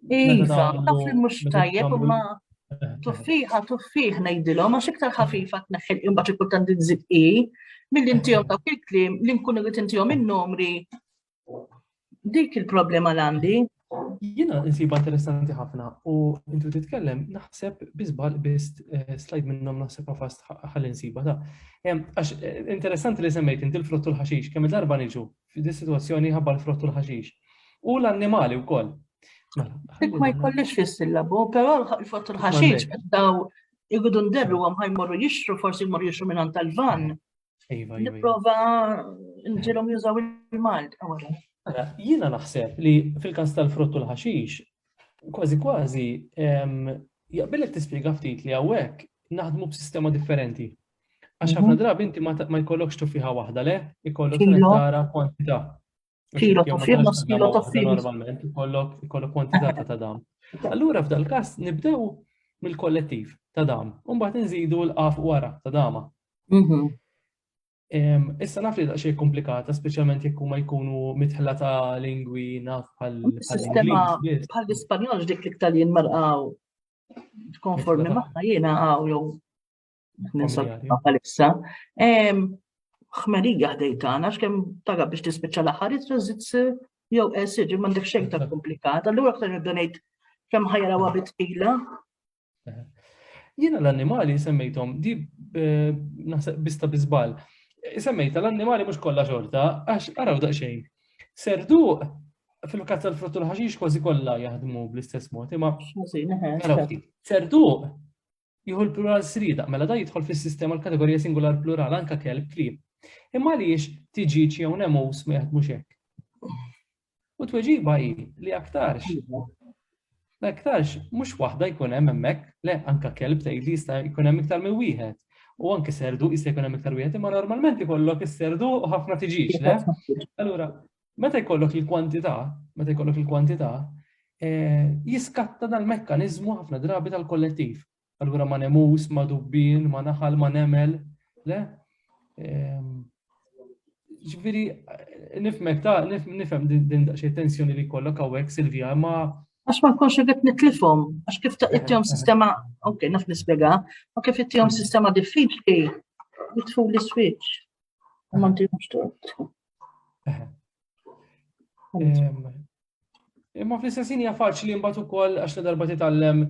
Speaker 1: Iva,
Speaker 5: taf li mhux tajjeb imma eh. tuffiħa tuffiħ ngħidilhom għax iktar ħafifa tneħħel imbagħad ikun tant inżid i mill-intihom dawk il-kliem li nkunu qed intihom in-numri Dik il-problema l-għandi. Jina
Speaker 1: nsiba interessanti ħafna u intu titkellem naħseb bizbal biss eh, slide minnom naħseb għafast ħalli nsiba ta' Għax eh, interessanti li semmejt inti l-frottu l-ħaxix, kemm darba niġu f'di situazzjoni ħabba l-frottu l-ħaxix. U l-annimali u koll. Mela, Dik ma
Speaker 5: jkollix fis-sillabu, però l-frottu l-ħaxix daw jgħidu nderru għam ħajmorru jixtru, forsi jmorru jixtru minn tal-van. Iva, iva, iva. Niprofa nġilom jużaw il-Malt. Mela,
Speaker 1: jiena naħseb li fil-kas tal-frott u l-ħaxix, kważi kważi, jaqbilek tispjega ftit li għawek naħdmu b'sistema differenti. Għax ħafna mhm. drabi inti ma jkollokx tufiħa waħda, le? Ikollok tara kwantità. Kilo
Speaker 5: ta' fil nofs kilo ta'
Speaker 1: fil. Normalment, kollok
Speaker 5: kwantitata
Speaker 1: ta' dam. Allura f'dal kas nibdew mill-kollettiv ta' dam, mbagħad nżidu l-qaf wara ta' dama. Mhm. Issa naf li daqsxejn komplikata, speċjalment jekk huma jkunu mitħla ta' lingwi naf bħal. Sistema
Speaker 5: bħal
Speaker 1: l-Ispanjol dik li
Speaker 5: ktar jien marqaw konformi maħna jiena għaw jew Għalissa, ħmerija ħdej tagħna x'kemm taga biex tispiċċa l-aħħar itrażit jew esir m'għandek xejn ta' komplikat, allura aktar nibda ngħid kemm ħajra wa bitqila.
Speaker 1: Jiena l-annimali semmejthom di eh, naħseb bista biżbal. Semmejta l-annimali mhux kollha xorta għax araw daqsxejn. Serdu fil-kazza l-fruttu l-ħaxix kważi kollha jaħdmu bl-istess mod, imma. Serdu Jieħu l-plural sriedaq, mela dan jidħol fis-sistema l-kategorija singular plural anke kelb klieb. Imma għaliex tiġiġ jew nemus ma jaħdmux hekk? U tweġiba hi li aktarx. La aktarx, mhux waħda jkun hemm hemmhekk, le anka kelb tgħid li jista' jkun hemm iktar minn wieħed. U anke serdu jista' jkun hemm iktar wieħed, imma normalment ikollok is-serdu u ħafna tiġix, le? Allura, Meta jkollok il-kwantità, meta jkollok il-kwantità, eh, jiskatta dal-mekkaniżmu ħafna drabi tal-kollettiv. Allura ma nemus, ma dubbin, ma naħal, ma nemel, le? Ehm, ġviri, nifmek ta' nifem din xie tensjoni li kollok għawek, Silvija, ma. Għax ma nkunx irrit
Speaker 5: nitlifom, għax kif ta' ittijom eh, eh. sistema, ok, naf nispjega, ma kif ittijom sistema diffiċli, jitfu li switch. Ma ntijom xtort.
Speaker 1: Imma fl-istessin hija faċli mbagħad ukoll għax la darba titgħallem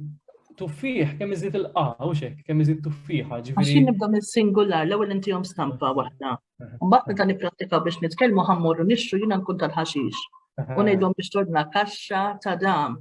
Speaker 1: tuffieħ kemm iżid il-qaw xek, kemm iżid tuffiħa ġifieri. Għax nibda
Speaker 5: mis-singular l-ewwel intihom stampa waħda. Mbagħad meta nipprattika biex nitkellmu ħammorru nixxu jiena nkun tal-ħaxix. U ngħidhom biex tordna kaxxa ta' dam.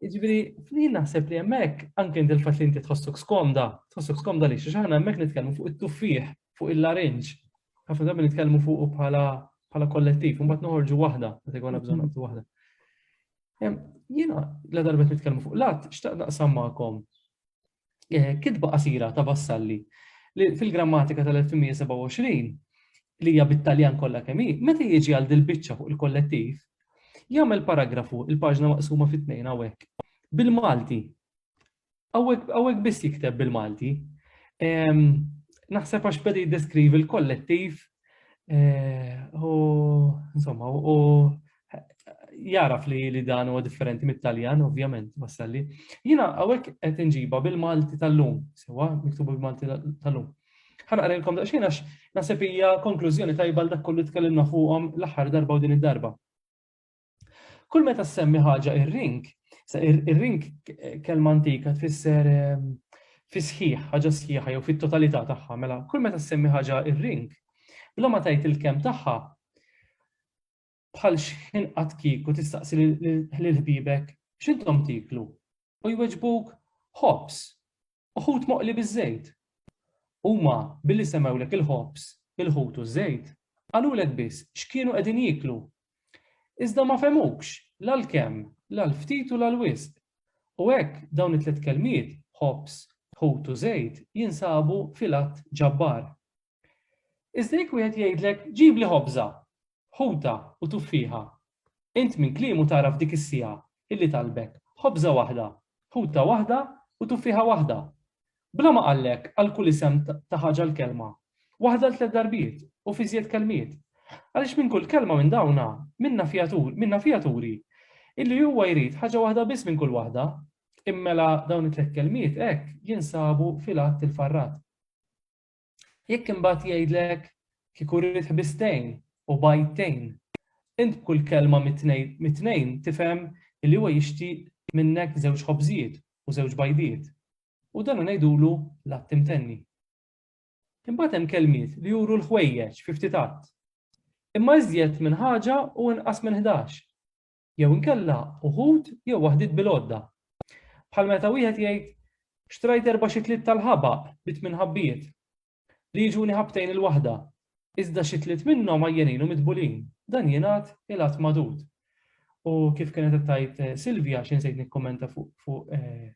Speaker 1: Ġifieri, jien naħseb li hemmhekk anke inti l-fatt li inti tħossok skomda, tħossok skomda li xi ħana hemmhekk nitkellmu fuq it-tuffieħ, fuq il-larinġ. Ħafna drabi nitkellmu fuq bħala bħala kollettiv, u mbagħad noħorġu waħda, meta jkollna bżonn mhm. naqbdu waħda. Jiena la darbet nitkellmu fuq lat, xtaq naqsam magħkom. Eh, kitba qasira ta' Vassalli li fil-grammatika tal-1827 li hija bit-Taljan kollha kemm hi, meta jiġi għal dil-biċċa fuq il-kollettiv, jagħmel paragrafu il-paġna maqsuma fit-tnejn hawnhekk bil-Malti. Hawnhekk biss jikteb bil-Malti. Ehm, naħseb għax beda jiddeskrivi l-kollettiv eh, u insomma u jaraf li li dan huwa differenti mit-Taljan, ovvjament, wassalli. Jina għawek qed inġiba bil-Malti tal-lum, sewa, miktubu bil-Malti tal-lum. Ħanqarilkom daqsxejn għax naħseb hija konklużjoni tajba dak kollu tkellimna fuqhom l-aħħar darba u din id-darba. Kull meta semmi ħaġa ir-ring, ir-ring kelma antika tfisser ehm, fi sħiħ, ħaġa sħiħa jew fit-totalità tagħha, mela kull meta semmi ħaġa ir-ring, bla ma tajt il-kem tagħha, Bħal xħin qatt kieku tistaqsi lil ħbibek x'intom tieklu u jweġbuk ħobż u ħut moqli biż-żejt. Huma billi semgħulek il-ħobż, il-ħut u ż-żejt, qalulek biss x'kienu qegħdin jieklu. Iżda ma fehmukx la l-kemm, la l-ftit u la l-wisq. U hekk dawn it-tliet kelmiet, ħobż, ħut u żejt, jinsabu fil-att ġabbar. Iżda jekk wieħed jgħidlek ġibli ħobża, ħuta u tuffieħa, int minn kliemu tagħraf dik is-siegħa illi talbek ħobża waħda, ħuta waħda u tuffieħa waħda. Bla ma qallek għal kull isem ta' ħaġa l-kelma, waħda l tliet darbiet u f'iżjed kelmiet. Għaliex minn kull kelma minn dawna, minna fiha turi illi huwa jrid ħaġa waħda biss minn kull waħda, immela dawn it-tliet kelmiet hekk jinsabu fil-Att il-Farrat. Jekk imbagħad jgħidlek, Kieku rrid ħbistejn u bgħidtejn, int b'kull kelma mit-tnejn tifhem li huwa jixtieq minnek żewġ ħobżijiet u żewġ bgħidiet, u dan ngħidulu l-att imtenni. Imbagħad hemm kelmiet li juru l-ħwejjeġ fi ftit att, imma iżjed minn ħaġa u inqas minn ħdax. jew inkella uħud jew waħdiet bil-għodda. Bħal meta wieħed jgħid, Xtrajt erba' xitliet tal-ħabaq bi tmien ħabbiet, li jiġuni ħabtejn il-waħda, iżda xi tliet minnhom għajjenin u mitbulin, dan jingħad il-għadd magħdud. U kif kienet qed tgħid eh, Silvja xi nsejt nikkummenta fuq eh,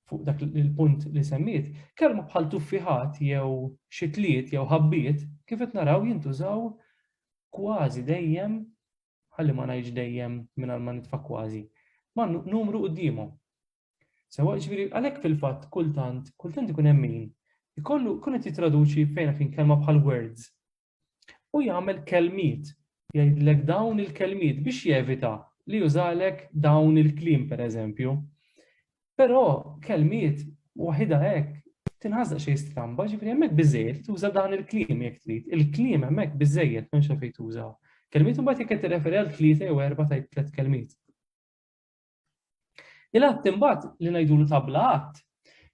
Speaker 1: fuq dak il-punt li semmiet, kelma bħal tuffiħat jew xitliet jew ħabbiet kif qed naraw jintużaw kważi dejjem ħalli ma ngħidx dejjem mingħajr ma nitfa' kważi, ma' numru quddiemhom. Sewa ġifieri għalhekk fil-fatt kultant, kultant ikun hemm min ikollu kun qed jittraduċi fejn fin kelma bħal words. U jagħmel kelmiet, jgħidlek dawn il-kelmiet biex jevita li jużalek dawn il-kliem pereżempju. Però kelmiet waħidha hekk tinħass daqsxejn stramba, ġifieri hemmhekk biżejjed tuża dan il-kliem jekk trid. Il-kliem hemmhekk biżejjed m'hemmx għalfejn tuża kelmiet u mbagħad jekk qed tirreferi għal tlieta jew erba' tgħid tliet kelmiet. Il-att imbagħad li ngħidulu tabla att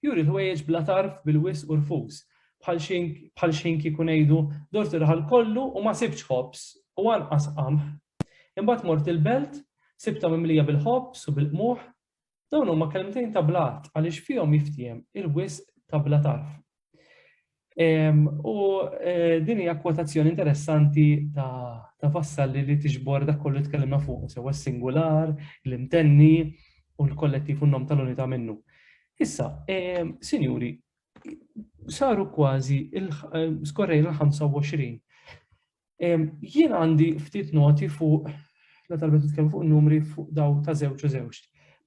Speaker 1: juri l-ħwejjeġ bla tarf bil-wis u rfus bħal xejn kieku ngħidu dort ir-raħal kollu u ma sibtx ħobż u anqas qamħ. Imbagħad mort il-belt, sibtha mimlija bil-ħobż u bil-qmuħ, Dawn huma kelmtejn ta' blat għaliex fihom jiftiem il-wisq ta' bla tarf. U eh, din hija kwotazzjoni interessanti ta' Vassalli li tiġbor dak kollu tkellimna fuq, sewa s-singular, l-imtenni u l-kollettiv u n-nom tal-unità minnu. Issa, sinjuri, saru kważi skorrejna l-25. Jien għandi ftit noti fuq la talbet nitkellmu fuq numri fuq daw ta' żewġ u żewġ.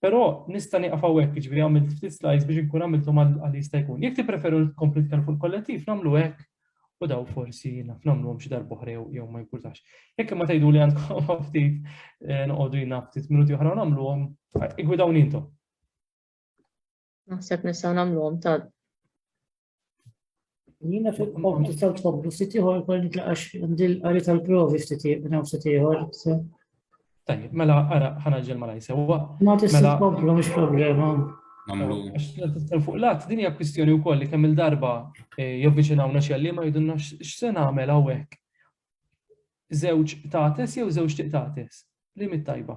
Speaker 1: Però nista' nieqaf hawnhekk, jiġifieri għamilt ftit slides biex inkun għamilthom għal jista' jkun. Jekk tippreferu nkompli nitkellmu fuq il-kollettiv, nagħmlu hekk u daw forsi naf nagħmluhom xi darba oħra jew ma jimpurtax. Jekk imma tgħidu li għandkom ftit eh, noqogħdu jina ftit minuti oħra nagħmluhom, igwidawni intom. Naħseb
Speaker 6: nistgħu nagħmluhom
Speaker 7: ta' Jina fil-qom tistaw tfobbu ftit ieħor kol nitlaqax għandil qari tal-provi ftit minn hawn ftit ieħor. Tajjeb,
Speaker 1: mela ara ħana ġel ma ngħid sewwa. Ma tista' mela- tkomplu
Speaker 7: mhux problema.
Speaker 1: Fuq lat, din hija kwistjoni wkoll li kemm il-darba eh, jovviċinawna xi għalliema jidunna x'se nagħmel hawnhekk. Żewġ tates jew żewġ tiqtates. Li mit-tajba.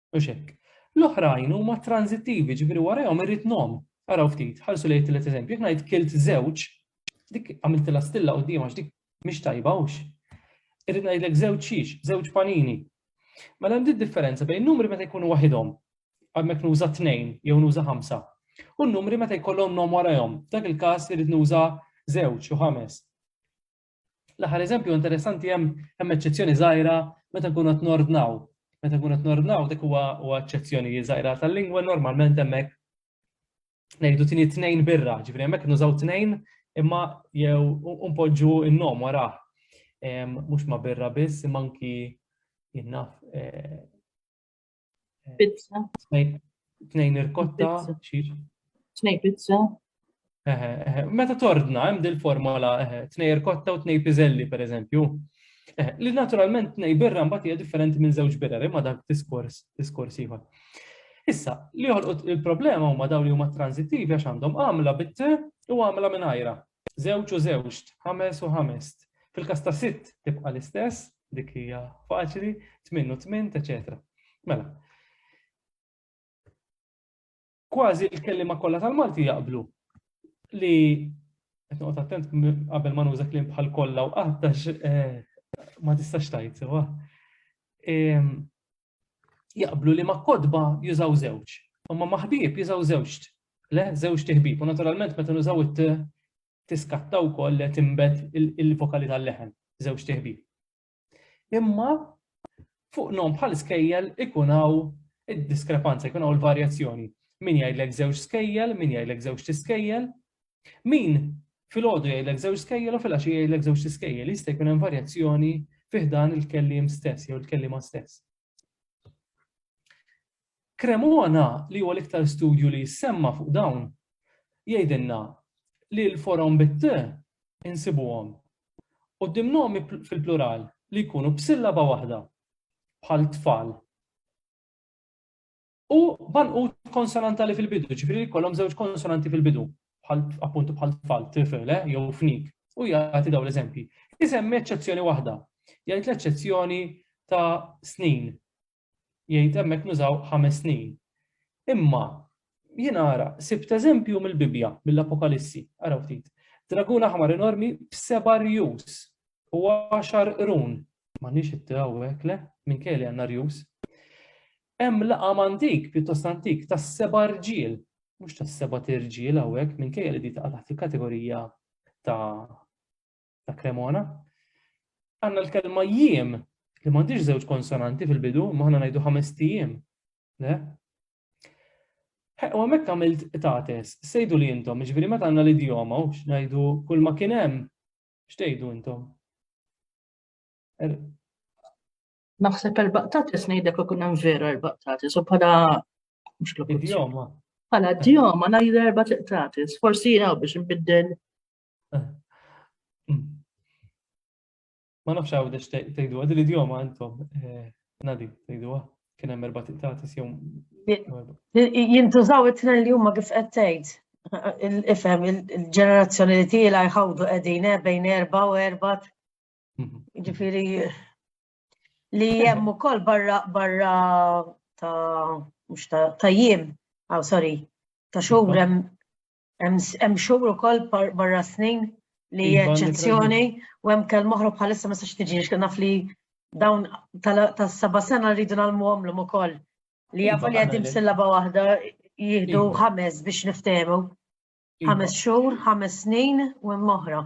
Speaker 1: Mhux hekk. L-oħrajn huma transittivi, ġifieri warahom irrid nom. Araw ftit, ħarsu lejn it-tielet eżempju, jekk ngħid kilt żewġ, dik għamiltilha stilla quddiem għax dik mhix tajba hux. Irrid ngħidlek żewġ xiex, żewġ panini. Mela hemm differenza bejn numri meta jkunu waħidhom, għamek nuża tnejn jew nuża ħamsa. U n-numri meta jkollhom nom warahom, dak il-każ irid nuża żewġ u ħames. L-aħħar eżempju interessanti hemm hemm eċċezzjoni żgħira meta nkunu qed nordnaw. Meta nkunu qed nordnaw dik huwa huwa eċċezzjoni żgħira tal-lingwa normalment hemmhekk ngħidu tieni tnejn birra, ġifieri hemmhekk nużaw tnejn imma jew npoġġu n-nom wara. Mhux ma birra biss imma anki jinnaf eh,
Speaker 5: Pizza.
Speaker 1: Tnejn irkotta. Tnejn pizza. Meta tordna, hemm dil formola tnejn irkotta u tnejn pizelli, per eżempju. Li naturalment tnejn birra mbagħad hija differenti minn żewġ birra, imma dak diskors, diskors ieħor. Issa, li joħolqu il-problema huma dawn li huma transittivi għax għandhom għamla bit u għamla minn ajra. Żewġ u żewġt, ħames u ħamest. Fil-każ ta' sitt tibqa' l-istess, dik hija faċli, tmien u tmint, eċetera. Mela. Kważi l-kelliema kollha tal-Malti jaqblu li qed noqgħod attent qabel ma nuża kliem bħal kollha u qattax eh, ma tistax tajt sewa. Ehm, jaqblu li ma' kotba jużaw żewġ, imma ma' ħbieb jużaw żewġt, le żewġt iħbieb, u naturalment meta nużaw it-t tiskatta wkoll li timbet il-vokali tal-leħen, żewġt iħbieb. Imma fuq nom bħal skejjel ikun hawn id-diskrepanza, ikun hawn il-varjazzjoni. Min jgħidlek żewġ skejjel, min jgħidlek żewġ tiskejjel, Min filgħodu jgħidlek żewġ skejjel u filgħaxija jgħidlek żewġ iskejjel, jista' jkun hemm varjazzjoni fih dan il-kelliem stess jew il-kelliema stess. Cremona li huwa l-iktar studju li jissemma fuq dawn jgħidilna li l-forom bit insibuhom u dimnomi fil-plural li jkunu b'sillaba waħda bħal tfal. U banqut konsonantali fil-bidu, ġifieri li jkollhom żewġ konsonanti fil-bidu, bħal appuntu bħal tfal, tifel, eh, jew fnik. U jagħti dawn l-eżempji. Isemmi eċċezzjoni waħda. Jgħid l-eċċezzjoni ta' snin. Jgħid hemmhekk nużaw ħames snin. Imma jien ara sibt eżempju mill-Bibbja, mill-Apokalissi, araw ftit. Dragun aħmar enormi b'seba' rjus u għaxar qrun. Ma nix it-tewwek, le, minn kelli għandna rjus. Hemm laqam antik, pjuttost antik, tas-seba' rġiel, mhux tas-seba' tirġiel hawnhekk minkejja li di taqa' taħt il-kategorija ta' ta' Cremona. Għandna l-kelma jiem li m'għandix żewġ konsonanti fil-bidu, ma aħna ngħidu ħames tijiem. Le? U hemmhekk għamilt tates, sejdu li intom, ġifieri meta għandna l-idjoma u ngħidu kull ma kien hemm, x'tgħidu intom? Er,
Speaker 5: Naħseb erbaqtatis ngħidlek ikun hemm vera erbaqtatis u bħala mhux klokuzzjoni.
Speaker 1: Bħala djoma
Speaker 5: ngħid erba' tiqtatis, forsi jew biex nbiddel. Eh. Hmm.
Speaker 1: Ma nafx għaw dex tgħidu għad l-idjoma intom eh, nadi tgħidu kien hemm erba' tiqtatis jew. Jintużaw
Speaker 3: it-tnejn li huma kif qed tgħid. Ifhem il-ġenerazzjoni li tiela jħawdu qegħdin eh, bejn erba' u erba' Ġifiri, li jem u koll barra barra ta' mux ta' jiem, għaw sorry, ta' xur jem xur u koll barra snin li iva, eccezzjoni u jem kell moħru bħalissa ma sax tiġi, xkan naf li dawn ta' saba sena rridu nalmu għamlu u koll li jafu li għadim sillaba wahda jihdu iva. ħames biex niftemu. Iva. Ħames xur, ħames snin u jem moħra.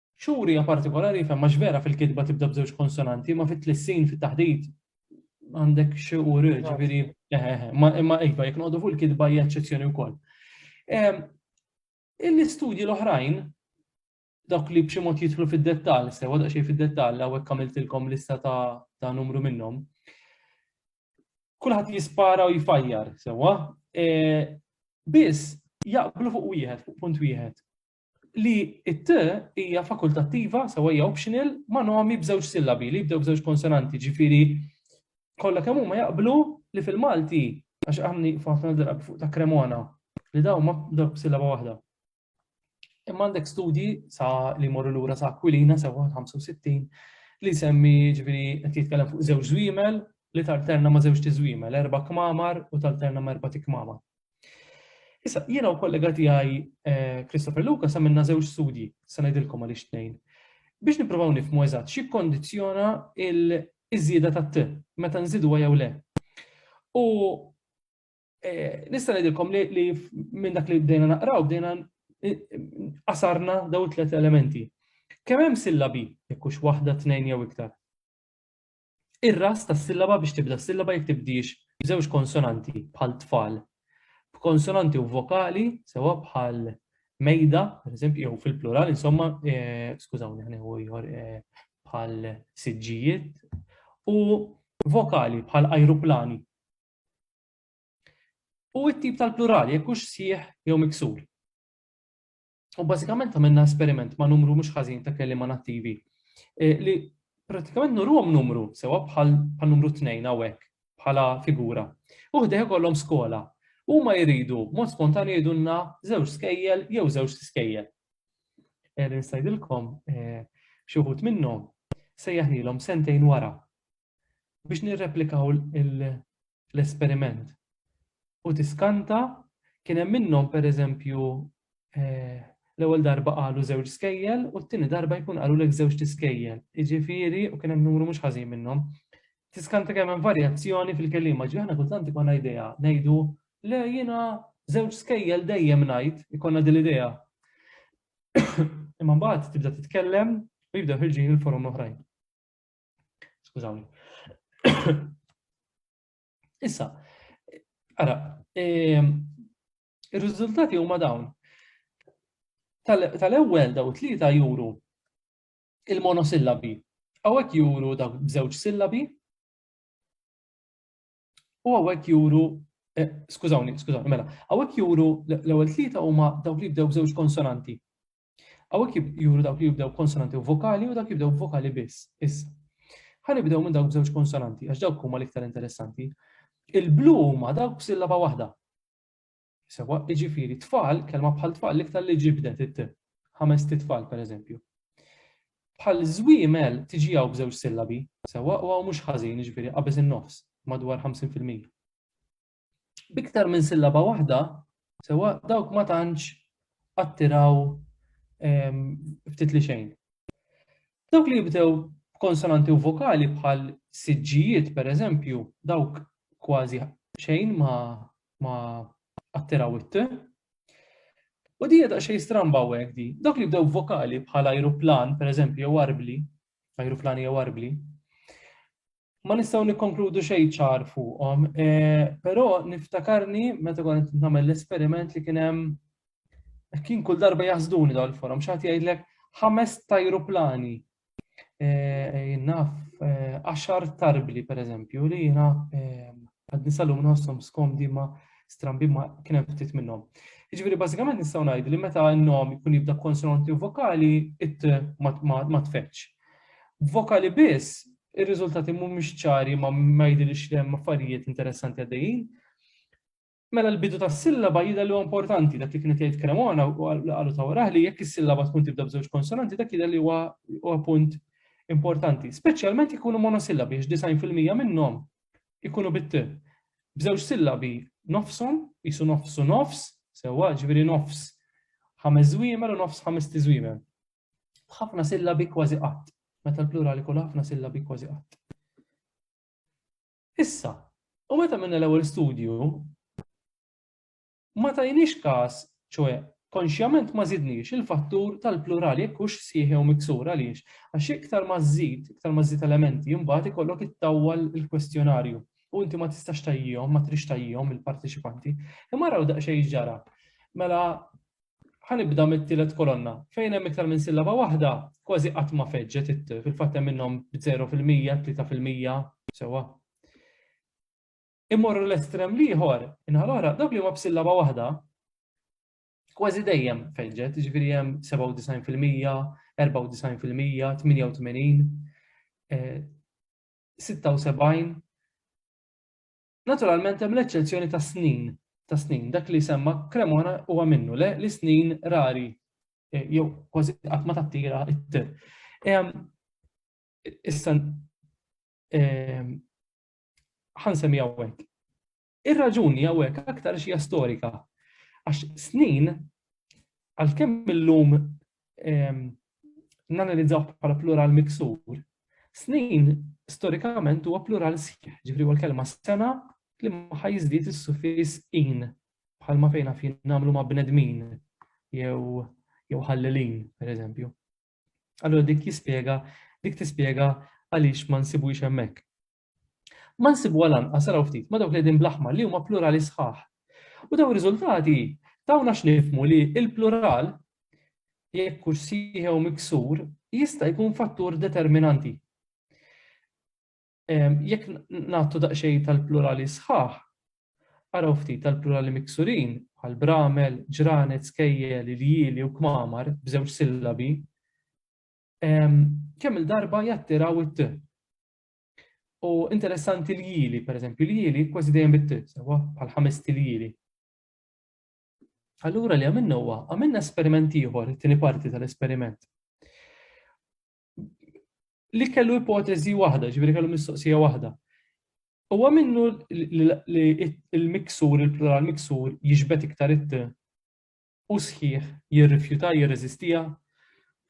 Speaker 3: Xhur hija
Speaker 1: partikolari fejn mhux vera fil-kitba tibda b'żewġ konsonanti, ma fit-tlissin fit-taħdit għandek xi u r, ġifieri eh, eh, eh, imma iva jekk noqogħdu fuq il-kitba hija eċċezzjoni wkoll. Ehm, Il-istudji l-oħrajn dawk li b'xi mod jidħlu fid-dettall, sewa daqsxejn fid-dettall hawnhekk għamiltilkom lista ta' numru minnhom. Kulħadd jispara u jfajjar, sewa. Biss jaqblu fuq wieħed, fuq punt wieħed li it-t hija fakultattiva, sewa hija optional, ma' nomi b'żewġ sillabi li jibdew b'żewġ konsonanti, ġifieri kollha kemm huma jaqblu li fil-Malti għax għamni ħafna drabi fuq ta' Cremona li daw ma b'dawk b'sillaba waħda. Imma għandek studji sa li morru lura sa Aquilina sa 65 li semmi ġifieri qed jitkellem fuq żewġ żwiemel li talterna ma' żewġ tiżwiemel, erba' kmamar u talterna ma' erba' tikmamar. Issa, jiena u kollega tiegħi eh, Christopher Luca sa minna żewġ studji, sa ngħidilkom għaliex tnejn, biex nippruvaw nifmu eżatt xi kondizzjona il-żieda tat-t meta nżidu jew le. U eh, nista' ngħidilkom li minn dak li bdejna naqraw bdejna eh, qasarna daw tliet elementi. Kemm hemm sillabi, jekk hux waħda tnejn jew iktar. Ir-ras tas-sillaba biex tibda s-sillaba jekk tibdiex b'żewġ konsonanti bħal tfal, b'konsonanti u vokali sewwa bħal mejda, pereżempju, jew fil-plural, insomma, eh, skużawni, ħaneħu ieħor eh, bħal siġġijiet, u vokali bħal ajruplani. U it-tip tal-plural, jekk hux sieħ jew miksur. U bażikament għamilna esperiment ma' numru mhux ħażin ta' kelliema nattivi e, li pratikament nurhom numru sewa bħal numru tnejn hawnhekk bħala figura. U ħdejh kollhom skola. Huma jridu mod spontanju jgħidulna żewġ skejjel jew żewġ skejjel. Erin eh, sajdilkom eh, xi wħud minnhom sejjaħnilhom sentejn wara. biex nirreplikaw l-esperiment. U tiskanta kien hemm minnhom pereżempju eh, l-ewwel darba qalu żewġ skejjel u t-tieni darba jkun qalu lek żewġ tiskejjel. Jiġifieri u kien hemm numru mhux ħażin minnhom. Tiskanta kemm hemm varjazzjoni fil-kelima, ġi aħna kultant ikonna idea ngħidu le jiena żewġ skejjel dejjem ngħid ikonna din l-idea. Imma mbagħad tibda titkellem u jibda ħirġin il-forum l-oħrajn. Skużawni. Issa, ara, ehm, ir-riżultati huma dawn. Tal-ewwel daw tlieta juru il-monosillabi. Għawek juru daw bżewġ sillabi. U għawek juru eh, Skużawni, skużawni, mela, għawek juru l-ewwel tlieta huma dawk li bdew bżewġ konsonanti. Hawnhekk juru dawk li jibdew konsonanti u vokali u dawk jibdew vokali biss. Issa. Ħanibdew minn dawk b'żewġ konsonanti għax dawk huma l-iktar interessanti. Il-blu huma dawk b'sillaba waħda. Sewa, iġifieri tfal, kelma bħal tfal l-iktar li ġibdet it ħames titfal pereżempju. Bħal żwiemel tiġi hawn b'żewġ sillabi, sewa u hawn mhux ħażin, iġifieri qabeż in-nofs, madwar 50%. biktar minn sillaba waħda, sewa dawk ma tantx attiraw ehm, ftit li xejn. Dawk li jibdew konsonanti u vokali bħal siġġijiet per eżempju, dawk kważi xejn ma ma attiraw it U di jeda xej stramba u di. Dawk li jibdew vokali bħal ajruplan, per eżempju, jew arbli, ajruplani jew arbli, ma nistgħu nikkonkludu xejn ċar fuqhom, eh, però niftakarni meta kont qed nagħmel l-esperiment li kien hemm kien kull darba jaħsduni dawn il-forum, xi ħadd jgħidlek ħames tajruplani. Eh, naf, eh, għaxar tarbli per eżempju li jiena għad nisalum nħossom skomdi ma strambi ma kien hemm ftit minnhom. Jiġifieri bażikament nistgħu ngħidu li meta n-nom jkun jibda konsonanti u vokali it ma tfeċċ. Vokali biss ir-riżultati mhumiex ċari ma ma jidhirx li hemm affarijiet interessanti għaddejjin. Mela l-bidu tas-sillaba jidher li huwa importanti dak li kienet jgħid Cremona u qalu ta' waraħ li jekk is-sillaba tkun tibda b'żewġ konsonanti dak jidher li huwa huwa punt importanti, speċjalment ikunu monosillabi għax disajn fil-mija minnhom ikunu bit B'żewġ sillabi nofshom, jisu nofsu nofs, sewwa ġifieri nofs ħames żwiemel u nofs ħames tiżwiemel. b'ħafna sillabi kważi qatt, meta l-plural ikun ħafna sillabi kważi qatt. Issa, u meta minna l-ewwel studju, ma tajniex każ, ċoe, konxjament ma zidniex il-fattur tal-plural jekk hux sħiħ jew miksur għaliex, għax iktar ma żid, iktar ma żid elementi, imbagħad ikollok ittawwal il-kwestjonarju u inti ma tistax tajjihom, ma trix tajjihom il-parteċipanti. Imma raw daqsxejn ġara. Mela Ħa nibda mit-tielet kolonna. Fejn hemm iktar minn sillaba waħda, kważi qatt ma feġġet it-t, fil-fatt hemm minnhom b'żero fil-mija, tlieta fil-mija, sewwa. Immorru l-estrem l-ieħor, in-naħa l-oħra, dawk li huma b'sillaba waħda, kważi dejjem feġġet, jiġifieri hemm 97 fil-mija, 94 fil-mija, 88, 76, Naturalment hemm l-eċċezzjoni ta' snin, ta' snin, dak li semma Cremona huwa minnu le li snin rari eh, jew kważi qatt ma tattira it-tir. Issa ħansemmi hawnhekk. Ir-raġuni hawnhekk aktar xija storika għax snin għalkemm illum nanalizzaw bħala plural miksur, snin storikament huwa plural sħiħ, ġifri huwa l-kelma sena li maħħa jiżdied is-suffis in bħalma fejna fin nagħmlu ma' bnedmin jew jew ħallelin, per eżempju. Allora dik jispjega, dik tispjega għaliex ma nsibux hemmhekk. Ma nsibuha lanqas araw ftit ma' dawk li qegħdin bl-aħmar li huma plurali sħaħ. U dawn ir-riżultati tawna x'nifhmu li l-plural jekk hux sieħi jew miksur jista' jkun fattur determinanti. Ehm, jekk nagħtu daqsxejn tal-plurali sħaħ, araw ftit tal-plurali miksurin bħal bramel, ġranet, skejjel, il-jili u kmamar b'żewġ sillabi, ehm, kemm il-darba jattiraw it-t. U interessanti li jili, per eżempju, li jili kważi dejjem bit sewa bħal ħames tiljili. Allura li għamilna huwa, għamilna esperiment ieħor, it-tieni parti tal-esperiment. Li kellu ipoteżi waħda, ġifieri kellu mistoqsija waħda. Huwa minnu li l-miksur, il-plural miksur, jiġbed iktar it u sħiħ jirrifjuta jirreżistiha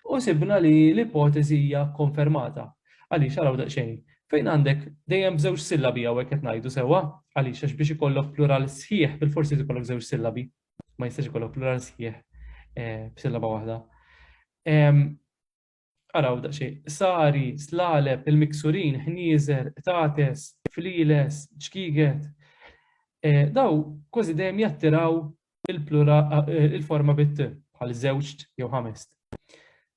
Speaker 1: u sibna li l-ipoteżi hija kkonfermata. Għaliex, araw daqsxejn, fejn għandek dejjem b'żewġ sillabi hawn hekk qed ngħidu sewwa, għaliex għax biex ikollok plural sħiħ bilfors irid ikollok żewġ sillabi, ma jistax ikollok plural sħiħ b'sillaba waħda. Araw daqsxejn, sari, slaleb, il-miksurin, ħnieżer, qtates, flieles, ċkiegħed. Dawn kważi dejjem jattiraw il-forma bit-t, bħal żewġt jew ħamest.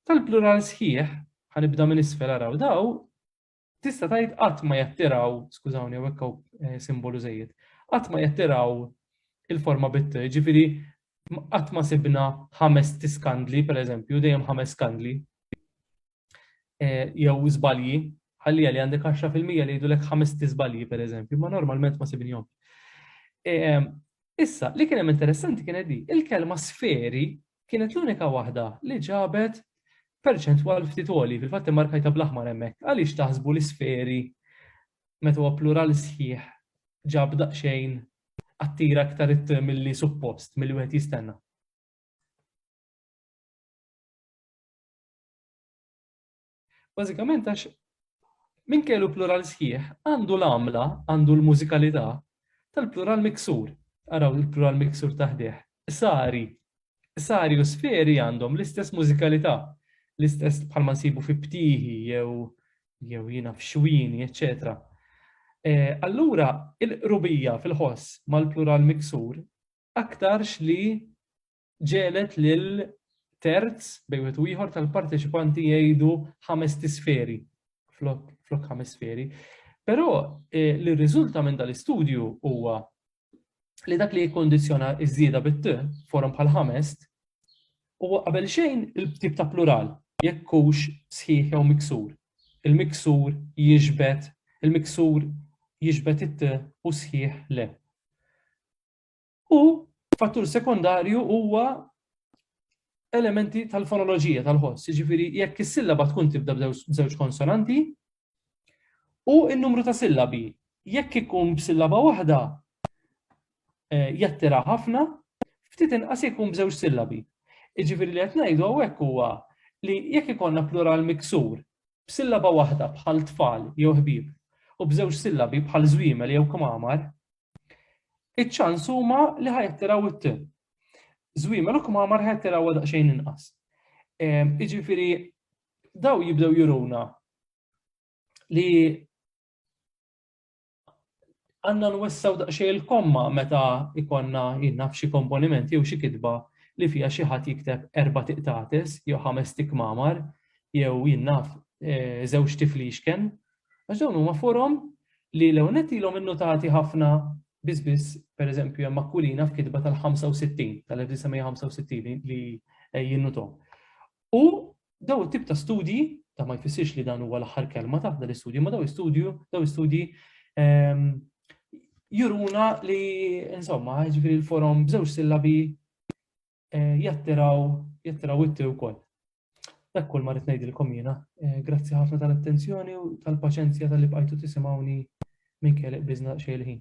Speaker 1: Tal-plural sħiħ, ħa nibda minn isfel araw dawn, tista' tgħid qatt ma jattiraw, skużawni hawnhekk hawn simbolu żejjed, qatt ma jattiraw il-forma bit, ġifieri qatt ma sibna ħames tiskandli, pereżempju, dejjem ħames skandli. Jew żbalji, ħalli li għandek 10% li jgħidulek ħames tiżbalji, pereżempju, ma normalment ma sibnihom. Issa, li kien hemm interessanti kienet di, il-kelma sferi kienet l-unika waħda li ġabet perċentwal ftit għoli, fil-fatt immarkajta bl-aħmar hemmhekk. Għaliex taħsbu li sferi meta huwa plural sħiħ ġab daqsxejn attira aktar it milli suppost, milli wieħed jistenna. Bażikament għax minn kellu plural sħiħ għandu l-għamla, għandu l-mużikalità tal-plural miksur. Araw il-plural miksur taħdih. Sari. Sari u sferi għandhom l-istess mużikalità, l-istess bħalma nsibu fi ptiħi jew jew jina f'xwini, eccetera. Eh, allura, il-qrubija fil-ħoss mal-plural miksur aktarx li ġegħlet lil terz bejn wieħed u ieħor tal-parteċipanti jgħidu ħames tisferi flok ħames sferi. Però eh, li rriżulta minn dal-istudju huwa li dak li jikkondizjona iż-żieda bit forum bħal ħamest, huwa qabel xejn il-tip ta' plural, jekk hux sħiħ jew miksur. Il-miksur jiġbed, il-miksur jiġbed it u sħiħ le. U fattur sekondarju huwa elementi tal-fonoloġija tal-ħoss, jiġifieri jekk is-sillaba tkun tibda b'żewġ konsonanti u n-numru ta' sillabi. Jekk ikun b'sillaba waħda eh, jattira ħafna, ftit inqas jekk ikun b'żewġ sillabi. Jiġifieri li qed ngħidu hawnhekk huwa li jekk ikollna plural miksur b'sillaba waħda bħal tfal jew ħbieb u b'żewġ sillabi bħal żwiemel jew kmamar, iċ-ċans huma li ħajattiraw it-tim. Żwiemel u kmamar ħajattiraw daqsxejn inqas. Jiġifieri daw jibdew juruna li għanna nwessaw daqxej il-komma meta ikonna jinnaf xi komponiment jew xi kitba li fija xi ħadd jikteb erba' tiqtates jew ħames tikmamar jew jinnaf e, żewġ tiflixken Għax dawn huma forom li l-ewwel nett ilhom innotati ħafna biss biss, pereżempju hemm Aquilina f'kitba tal-65, tal-1965 li jinnutom. U daw it-tip ta' studji, ta' ma jfissirx li dan huwa l-aħħar kelma ta' dan l-istudju, ma daw istudju, daw istudji ehm, juruna li, insomma, ġifiri l-forum bżewġ sillabi jattiraw jattiraw itti wkoll. Dak kull ma rrid ngħidilkom jiena. Eh, grazzi ħafna tal-attenzjoni u tal-paċenzja tal-li bqajtu tisimgħuni minn kelliq biżna xejn ħin.